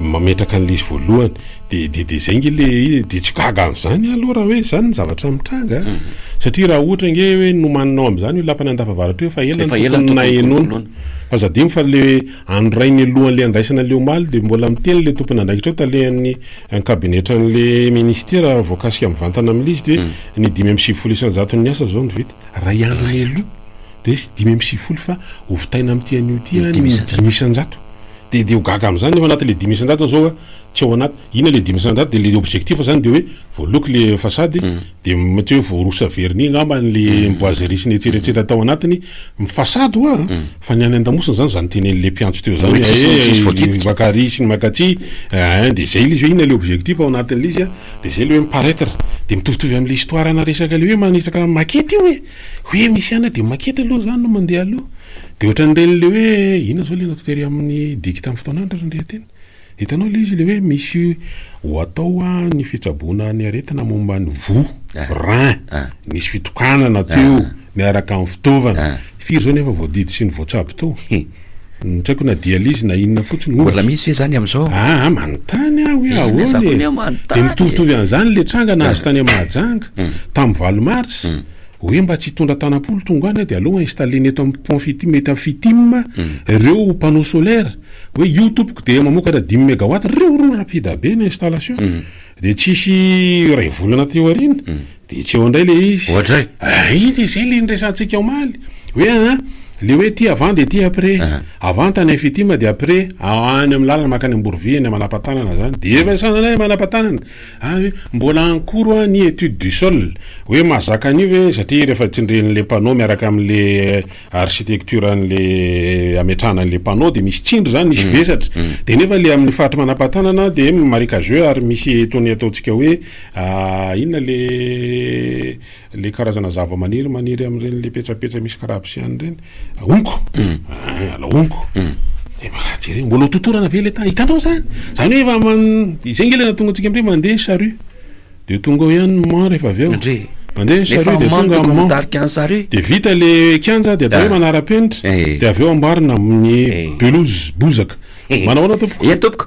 mametraka an'ilay izy voalohany de de de zay nge le izy de tsy gaga am'zany ah aloha raha hoe zany ny zavatra mitranga ah mhm. satria raha ohatra nge hoe nomaninao am'zany io lapan'ny andafavaratra io fa ela ny tokony nahenoana fa za dimo fa le andro ray ny alohan'le andraisana le omaly de mbola miteny le tompony andraikitra eo talehan'ny ankabinetran'le ministera voakasika mivantana amin'ilay izy de mhm. ny dimy amby sivifolo isan-jaton'ny asa zao no vita ray andron'ny aloha de izy dimy amby sivifolo fa hovitaina amin'ity an'io ity ah ny dimy isan-jato Dia dia ho gaga amin'izany ny ao anatin'ilay dimy isan-jato zao hoe tsy ao anaty, inona ilay dimy isan-jato? Dia ilay objectif zany dia hoe voaloako ilay façade, dia mety hoe voarosotra vernis angamba an'ilay boiserie sy ny etsy eretserany tao anatiny, ny façade hoa an! fa ny any an-damosina zany zany tenenin'ilay mpiantso teo zany hoe eh! maka ary sy ny maka atsy eh! dia zay ilay izy hoe inona ilay objectif ao anatin'ilay izy an! dia zay ilay hoe mi-paraitre, dia mitovitovy amin'ilay histoire-na resaka ilay hoe manisaka maquette io e! hoe misy ihany dia maquette aloha zany no mandeha aloha. Dia ohatran'ireny ilay hoe, inona izao ilay natao tery amin'ny diky tamin'ny fotoana andro ary ny reha-teny? Hitanao ilay izy ilay hoe misy ho atao ny fitsaboana ny aretina momba ny voa, rein, nisy fitokanana teo miaraka amin'ny fitaovana, firy izao ny efa voadidy sy ny voatsabo tao? Tsy haiko na dialyse na inona fotsiny ohatra. Mbola misy ve izany amin'izao? Aa, manontany aho hoe ahoana e! Dia mitovitovy an'izany ilay tranga nahazo tany Mahajanga, tamin'ny valo martsa, Oe mba tsy hitondra tanam-po lo tonga any de aleo installena eto am pont fitim ety am fitim reo panneau solaire oe io tompoko de mamokatra dimy megawatt reo ro rapida be ny installation de tsisy iray volana teo aoriana de tsy eo indray le izy Oadray. ah iny le zay le niresahantsika omaly oe aa le oe ity avant de ity après avant tany am fitim de après any am lalana makany amborivihiny manapa-tanana zany de efa sananay manapa-tanana Ary mbola en cours hoa ny étude du sol hoe mahazaka an'io ve satria rehefa tsindrin'le panneau miaraka amin'le architecture an'le ametrahana an'le panneau dia misy tsindry zany misy vesatra dia nefa le amin'ny faritry manampatanana dia marécageux ary misy itony ataontsika hoe inona le Ilay karazana zavamaniry maniry amin'ireny ilay petsapetsa misy karabosiany ireny, honko, ah, ilay honko. Dia mba jereo, mbola ho totorana ve ilay tany? Hitanao izany? Izany hoe efa man... izay nge ilay nahatonga antsika amin'ireny mandeha ny charrue. Dia tonga ao ihany ny mman rehefa avy eo. Ndry. Mandeha ny Nefa charrue dia mman tonga tokony mman. mitarika an'i charrue. Dia vita ilay kianja dia atao hoe Ah. manara-penitra, Eh. dia avy eo amboarina amin'ny Eh. pelouse, bozaka. Manao ahoana tompoko? Eny tompoko.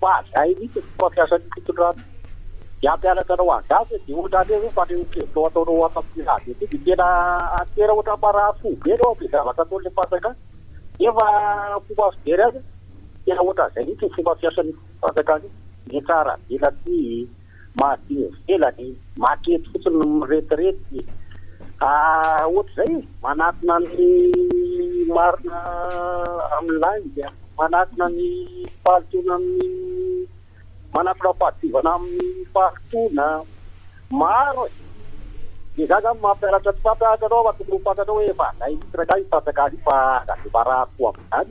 fa zay mihitsy ny fomba fiasan'ny fitondrana de hampianatra anao an'zany hoe de ohatra an'io zao fanehoan-kevitrao ataonao ato amin'ny radio aty de tena tena ohatra marary fo be anao amin'le zavatra ataon'le mpanjaka nefa fomba fijery azy tena ohatra an'zay mihitsy ny fomba fiasan'io fanjakana io, ny tsara avela aty, mahazia ivelany, maty eto fotsiny no miretirety ah, ohatr'izay e, manatona ny marina amin'ny lainga, manatona ny fahalotoana amin'ny, manatona ny fahadiovana amin'ny fahalotoana, maro e! Dia izaho izany mampianatra tsy fantatra anao fa tokony ho fantatrao hoe efa alainin'ny tsirairay io satraka io fa aza dia marary fo amin'izany.